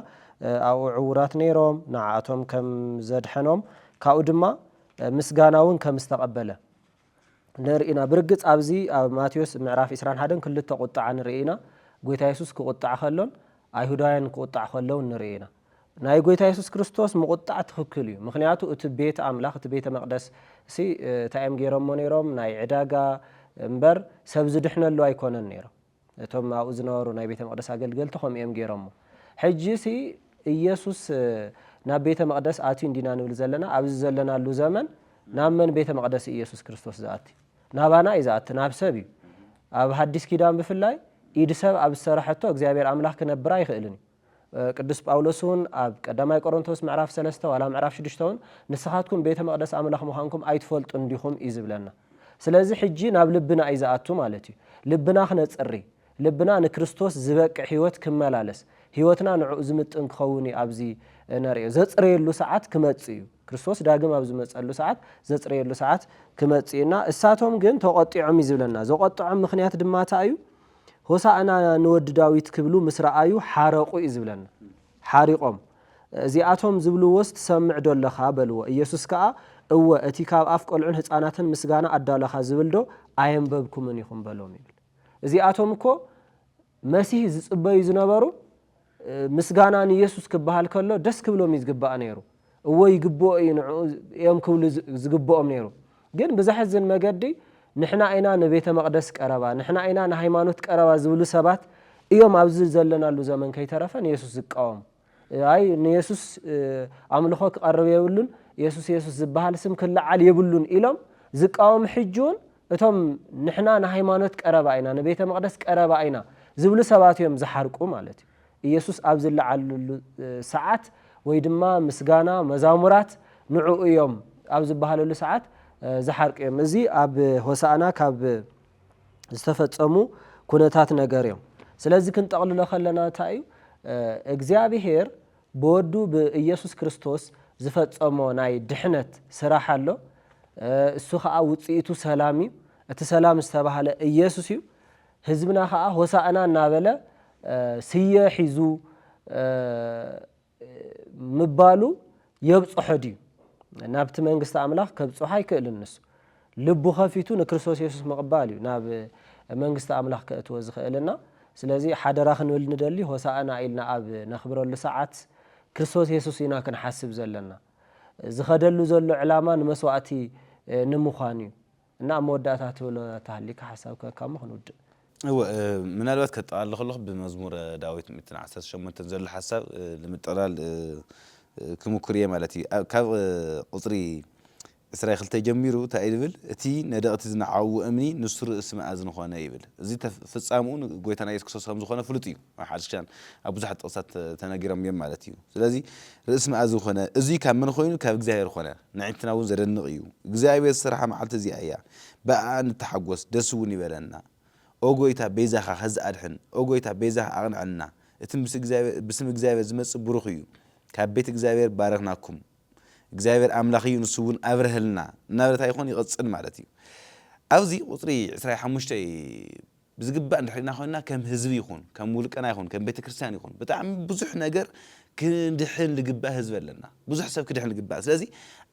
ኣብኡ ዕውራት ነይሮም ንዓኣቶም ከም ዘድሐኖም ካብኡ ድማ ምስጋና እውን ከም ዝተቐበለ ንርኢ ኢና ብርግጽ ኣብዚ ኣብ ማቴዎስ ምዕራፍ ኢስራን ሓደን ክልተ ቁጥዓ ንርኢ ኢና ጎይታ የሱስ ክቁጣዕ ከሎን ኣይሁዳውያን ክቁጣዕ ከለውን ንርኢ ኢና ናይ ጎይታ የሱስ ክርስቶስ ምቁጣዕ ትክክል እዩ ምክንያቱ እቲ ቤት ኣምላክ እቲ ቤተ መቅደስ ሲ ታይ እዮም ገይሮሞ ነይሮም ናይ ዕዳጋ እምበር ሰብ ዝድሕነሉ ኣይኮነን ነይሩ እቶም ኣብኡ ዝነበሩ ናይ ቤተ መቅደስ ኣገልገልቲ ከምኡ እዮም ገይሮሞ ሕጂ ሲ እየሱስ ናብ ቤተ መቅደስ ኣትዩ እንዲና ንብል ዘለና ኣብዚ ዘለናሉ ዘመን ናብ መን ቤተ መቅደስ እዩ የሱስ ክርስቶስ ዝኣቲ ናባና እዩ ዝኣቲ ናብ ሰብ እዩ ኣብ ሃዲስ ኪዳን ብፍላይ ኢድ ሰብ ኣብ ዝሰራሐቶ እግዚኣብሔር ኣምላክ ክነብር ኣይክእልን እዩ ቅዱስ ጳውሎስውን ኣብ ቀዳማይ ቆሮንቶስ ምዕራፍ ሰለስተ ዋላ ምዕራፍ ሽዱሽተውን ንስኻትኩም ቤተ መቕደስ ኣምላኽ ምዃንኩም ኣይትፈልጡን ዲኹም እዩ ዝብለና። ስለዚ ሕጂ ናብ ልብና እዩ ዝኣቱ ማለት እዩ። ልብና ክነጽሪ፣ ልብና ንክርስቶስ ዝበቅዕ ሕይወት ክመላለስ፣ ሕይወትና ንዕኡ ዝምጥን ክኸውን እዩ ኣብዚ እነርእዮ ዘጽርየሉ ሰዓት ክመጽእ እዩ። ክርስቶስ ዳግም ኣብ ዝመጸሉ ሰዓት ዘጽርየሉ ሰዓት ክመጽእ እዩና እሳቶም ግን ተቖጢዖም እዩ ዝብለና። ዘቖጠዖም ምኽንያት ድማ እታይ እዩ? ሆሳእና ንወዲ ዳዊት ክብሉ ምስ ረኣዩ ሓረቑ እዩ ዝብለና። ሓሪቖም። እዚኣቶም ዝብልዎስ ትሰምዕዶ ኣለኻ? በልዎ። ኢየሱስ ከኣ እወ፣ እቲ ካብ ኣፍ ቈልዑን ህጻናትን ምስጋና ኣዳሎኻ ዝብልዶ ኣየንበብኩምን ኢኹም? በሎም ይብል። እዚኣቶም እኮ መሲህ ዝጽበዩ ዝነበሩ ምስጋና ንየሱስ ክበሃል ከሎ ደስ ክብሎም እዩ ዝግባእ ነይሩ። እወ ይግብኦ እዩ ንዕኡ እዮም ክብሉ ዝግብኦም ነይሩ። ግን ብዘሕዝን መገዲ ንሕና ኢና ንቤተ መቕደስ ቀረባ፣ ንሕና ኢና ንሃይማኖት ቀረባ ዝብሉ ሰባት እዮም ኣብዚ ዘለናሉ ዘመን ከይተረፈ ንየሱስ ዝቃወሙ። ኣይ ንየሱስ ኣምልኾ ክቐርብ የብሉን፣ የሱስ የሱስ ዝበሃል ስም ክለዓል የብሉን ኢሎም ዝቃወሙ ሕጂውን እቶም ንሕና ንሃይማኖት ቀረባ ኢና፣ ንቤተ መቕደስ ቀረባ ኢና ዝብሉ ሰባት እዮም ዝሓርቁ ማለት እዩ። ኢየሱስ ኣብ ዝለዓለሉ ሰዓት ወይ ድማ ምስጋና መዛሙራት ንዑ እዮም ኣብ ዝበሃለሉ ሰዓት ዝሓርቁ እዮም። እዚ ኣብ ሆሳእና ካብ ዝተፈጸሙ ኩነታት ነገር እዮም። ስለዚ ክንጠቕልሎ ከለና እንታይ እዩ እግዚኣብሔር ብወዱ ብኢየሱስ ክርስቶስ ዝፈጸሞ ናይ ድሕነት ስራሕ ኣሎ። እሱ ከኣ ውጽኢቱ ሰላም እዩ። እቲ ሰላም ዝተባህለ ኢየሱስ እዩ። ህዝብና ከኣ ሆሳእና እናበለ ስየ ሒዙ ምባሉ የብጽሖ ድዩ? ናብቲ መንግስቲ ኣምላኽ ከብጽሖ ኣይክእልን ንሱ። ልቡ ከፊቱ ንክርስቶስ የሱስ ምቕባል እዩ ናብ መንግስቲ ኣምላኽ ከእትዎ ዝኽእልና። ስለዚ ሓደራ ክንብል ንደሊ ሆሳእና ኢልና ኣብ ነኽብረሉ ሰዓት ክርስቶስ የሱስ ኢና ክንሓስብ ዘለና። ዝኸደሉ ዘሎ ዕላማ ንመስዋእቲ ንምዃን እዩ። እና ኣብ መወዳእታ ትብሎ ተሃሊካ ሓሳብ ክህካሞ ክንውድእ። እወ ምናልባት ከጠቓልል ከለኹ ብመዝሙረ ዳዊት ሚእትን ዓሰርተ ሸሞንተን ዘሎ ሓሳብ ንምጥቕላል ክምኩር እየ ማለት እዩ። ካብ ቁጽሪ ዕስራይ ክልተ ጀሚሩ ታይ እዩ ዝብል እቲ ነደቕቲ ዝነዓውዎ እምኒ ንሱ ርእሲ መኣዝን ኾነ ይብል እዚ ፍጻምኡ ንጎይታና ኢየሱስ ክርስቶስ ከምዝኾነ ፍሉጥ እዩ ኣብ ሓድሽ ኪዳን ኣብ ብዙሓት ጥቕስታት ተነጊሮም እዮም ማለት እዩ ስለዚ ርእሲ መኣዝን ኾነ እዙይ ካብ መን ኾይኑ ካብ እግዚኣብሔር ኾነ ንዒንትና እውን ዘደንቕ እዩ እግዚኣብሔር ዝሰርሓ መዓልቲ እዚኣ እያ ብኣኣ ንተሓጎስ ደስ እውን ይበለና ኦ ጎይታ ቤዛኻ ኸዚ ኣድሕን ኦ ጎይታ ቤዛኻ ኣቕንዐልና እቲ ምስ እግዚኣብሔር ብስም እግዚኣብሔር ዝመጽእ ብሩኽ እዩ ካብ ቤት እግዚኣብሔር ባረኽናኩም እግዚኣብሔር ኣምላኽ እዩ ንሱ እውን ኣብርሀልና እናበለት ኣይኾን ይቕፅል ማለት እዩ። ኣብዚ ቁፅሪ ዕስራይ ሓሙሽተይ ብዝግባእ እንድሕር ኢና ኮይንና ከም ህዝቢ ይኹን ከም ውልቀና ይኹን ከም ቤተ ክርስቲያን ይኹን ብጣዕሚ ብዙሕ ነገር ክድሕን ልግባእ ህዝቢ ኣለና ብዙሕ ሰብ ክድሕን ልግባእ ስለዚ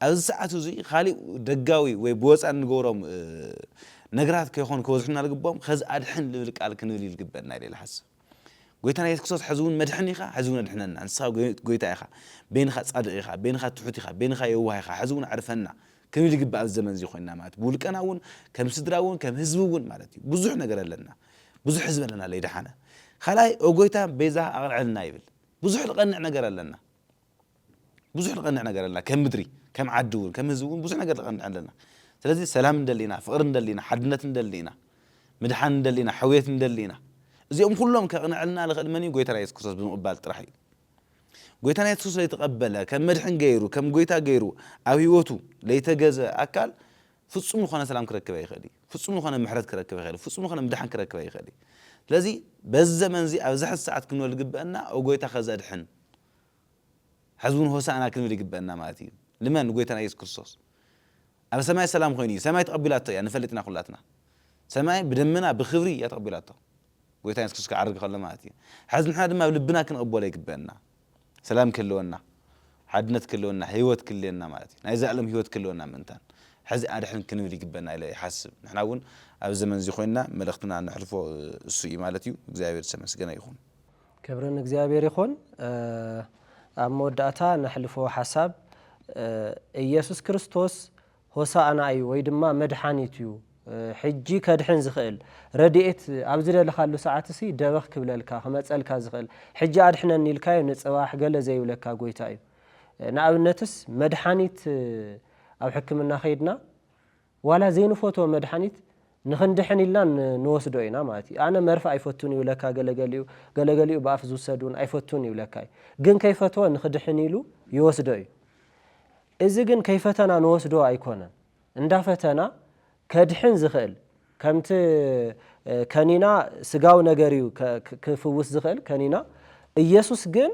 ኣብዚ ሰዓት እዚ ካሊእ ደጋዊ ወይ ብወፃ እንገብሮም ነገራት ከይኾኑ ከበዝሑና ልግቦም ከዚ ኣድሕን ልብል ቃል ክንብል እዩ ልግበእና ኢለ ልሓስብ ጎይታና የሱስ ክርስቶስ ሕዚ ውን መድሕን ኢኻ ሕዚ ውን ኣድሕነና ንስኻ ጎይታ ኢኻ በይንኻ ጻድቕ ኢኻ በይንኻ ትሑት ኢኻ በይንኻ የዋህ ኢኻ ሕዚ ውን ኣዕርፈና ክንብል ይግባእ ኣብዚ ዘመን እዚ ኮይንና ማለት ብውልቀና ውን ከም ስድራ ውን ከም ህዝቢ ውን ማለት እዩ ብዙሕ ነገር ኣለና ብዙሕ ህዝቢ ኣለና ለይደሓነ ካልኣይ ኦጎይታ ቤዛ ኣቕልዕልና ይብል ብዙሕ ልቐንዕ ነገር ኣለና ብዙሕ ንቀንዕ ነገር ኣለና ከም ምድሪ ከም ዓዲ ውን ከም ህዝቢ ውን ብዙሕ ነገር ንቀንዕ ኣለና ስለዚ ሰላም ንደሊ ኢና ፍቅሪ ንደሊ ኢና ሓድነት ንደሊ ኢና ምድሓን ንደሊ ኢና ሕውየት ንደሊ ኢና እዚኦም ኩሎም ከቅንዐልና ልክእል መን እዩ ጎይታና የሱስ ክርስቶስ ብምቅባል ጥራሕ እዩ ጎይታና የሱስ ለይተቀበለ ከም መድሕን ገይሩ ከም ጎይታ ገይሩ ኣብ ህይወቱ ለይተገዘ ኣካል ፍጹም ዝኾነ ሰላም ክረክብ ኣይኽእል እዩ ፍጹም ዝኾነ ምሕረት ክረክብ ኣይኽእል ፍጹም ዝኾነ ምድሓን ክረክብ ኣይኽእል እዩ ስለዚ በዚ ዘመን እዚ ኣብዚ ሕዚ ሰዓት ክንበል ዝግበአና ኦ ጎይታ ከዘድሕን ሐዚ እውን ሆሳእና ክንብል ይግበእና ማለት እዩ ልመን ንጎይታና ኢየሱስ ክርስቶስ ኣብ ሰማይ ሰላም ኾይኑ እዩ ሰማይ ተቀቢላቶ እያ ንፈልጥ ኢና ኩላትና ሰማይ ብደመና ብክብሪ እያ ተቀቢላቶ ጎይታና ኢየሱስ ክርስቶስ ክዓርግ ከሎ ማለት እዩ ሐዚ ንሕና ድማ ኣብ ልብና ክንቅበሎ ይግበእና ሰላም ክህልወና ሓድነት ክህልወና ህይወት ክልየና ማለት እዩ ናይ ዘለኣለም ህይወት ክህልወና ምእንታን ሐዚ ኣድሕን ክንብል ይግበእና ኢለ ይሓስብ ንሕና እውን ኣብዚ ዘመን እዚ ኮይንና መልእኽትና ነሕልፎ እሱ እዩ ማለት እዩ እግዚኣብሔር ዝተመስገነ ይኹን። ክብሪ ንእግዚኣብሔር ይኹን ኣብ መወዳእታ ነሕልፎ ሓሳብ ኢየሱስ ክርስቶስ ሆሳእና እዩ ወይ ድማ መድሓኒት እዩ ሕጂ ከድሕን ዝኽእል ረድኤት ኣብ ዝደለኻሉ ሰዓት ሲ ደበኽ ክብለልካ ክመጸልካ ዝኽእል ሕጂ ኣድሕነኒ ኢልካዮ ንጽባሕ ገለ ዘይብለካ ጎይታ እዩ ንኣብነትስ መድሓኒት ኣብ ሕክምና ከይድና ዋላ ዘይንፈትዎ መድሓኒት ንኽንድሕን ኢልና ንወስዶ ኢና ማለት እዩ። ኣነ መርፍ ኣይፈቱን ይብለካ ገለ ገሊኡ፣ ገለ ገሊኡ ብኣፍ ዝውሰድ እውን ኣይፈቱን ይብለካ እዩ። ግን ከይፈትወ ንኽድሕን ኢሉ ይወስዶ እዩ። እዚ ግን ከይፈተና ንወስዶ ኣይኮነን። እንዳፈተና ከድሕን ዝኽእል ከምቲ ከኒና ስጋዊ ነገር እዩ ክፍውስ ዝኽእል ከኒና ኢየሱስ ግን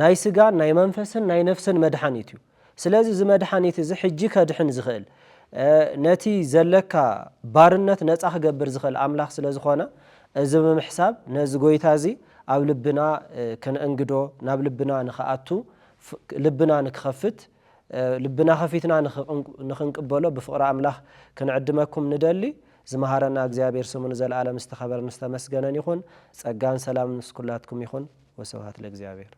ናይ ስጋን ናይ መንፈስን ናይ ነፍስን መድሓኒት እዩ። ስለዚ እዚ መድሓኒት እዚ ሕጂ ከድሕን ዝኽእል ነቲ ዘለካ ባርነት ነጻ ክገብር ዝኽእል ኣምላኽ ስለ ዝኾነ እዚ ብምሕሳብ ነዚ ጎይታ እዚ ኣብ ልብና ክንእንግዶ ናብ ልብና ንክኣቱ ልብና ንክኸፍት ልብና ከፊትና ንክንቅበሎ ብፍቕሪ ኣምላኽ ክንዕድመኩም ንደሊ። ዝመሃረና እግዚኣብሔር ስሙ ንዘለዓለም ዝተኸበረን ዝተመስገነን ይኹን። ጸጋን ሰላምን ምስ ኩላትኩም ይኹን። ወስብሃት ለእግዚኣብሔር።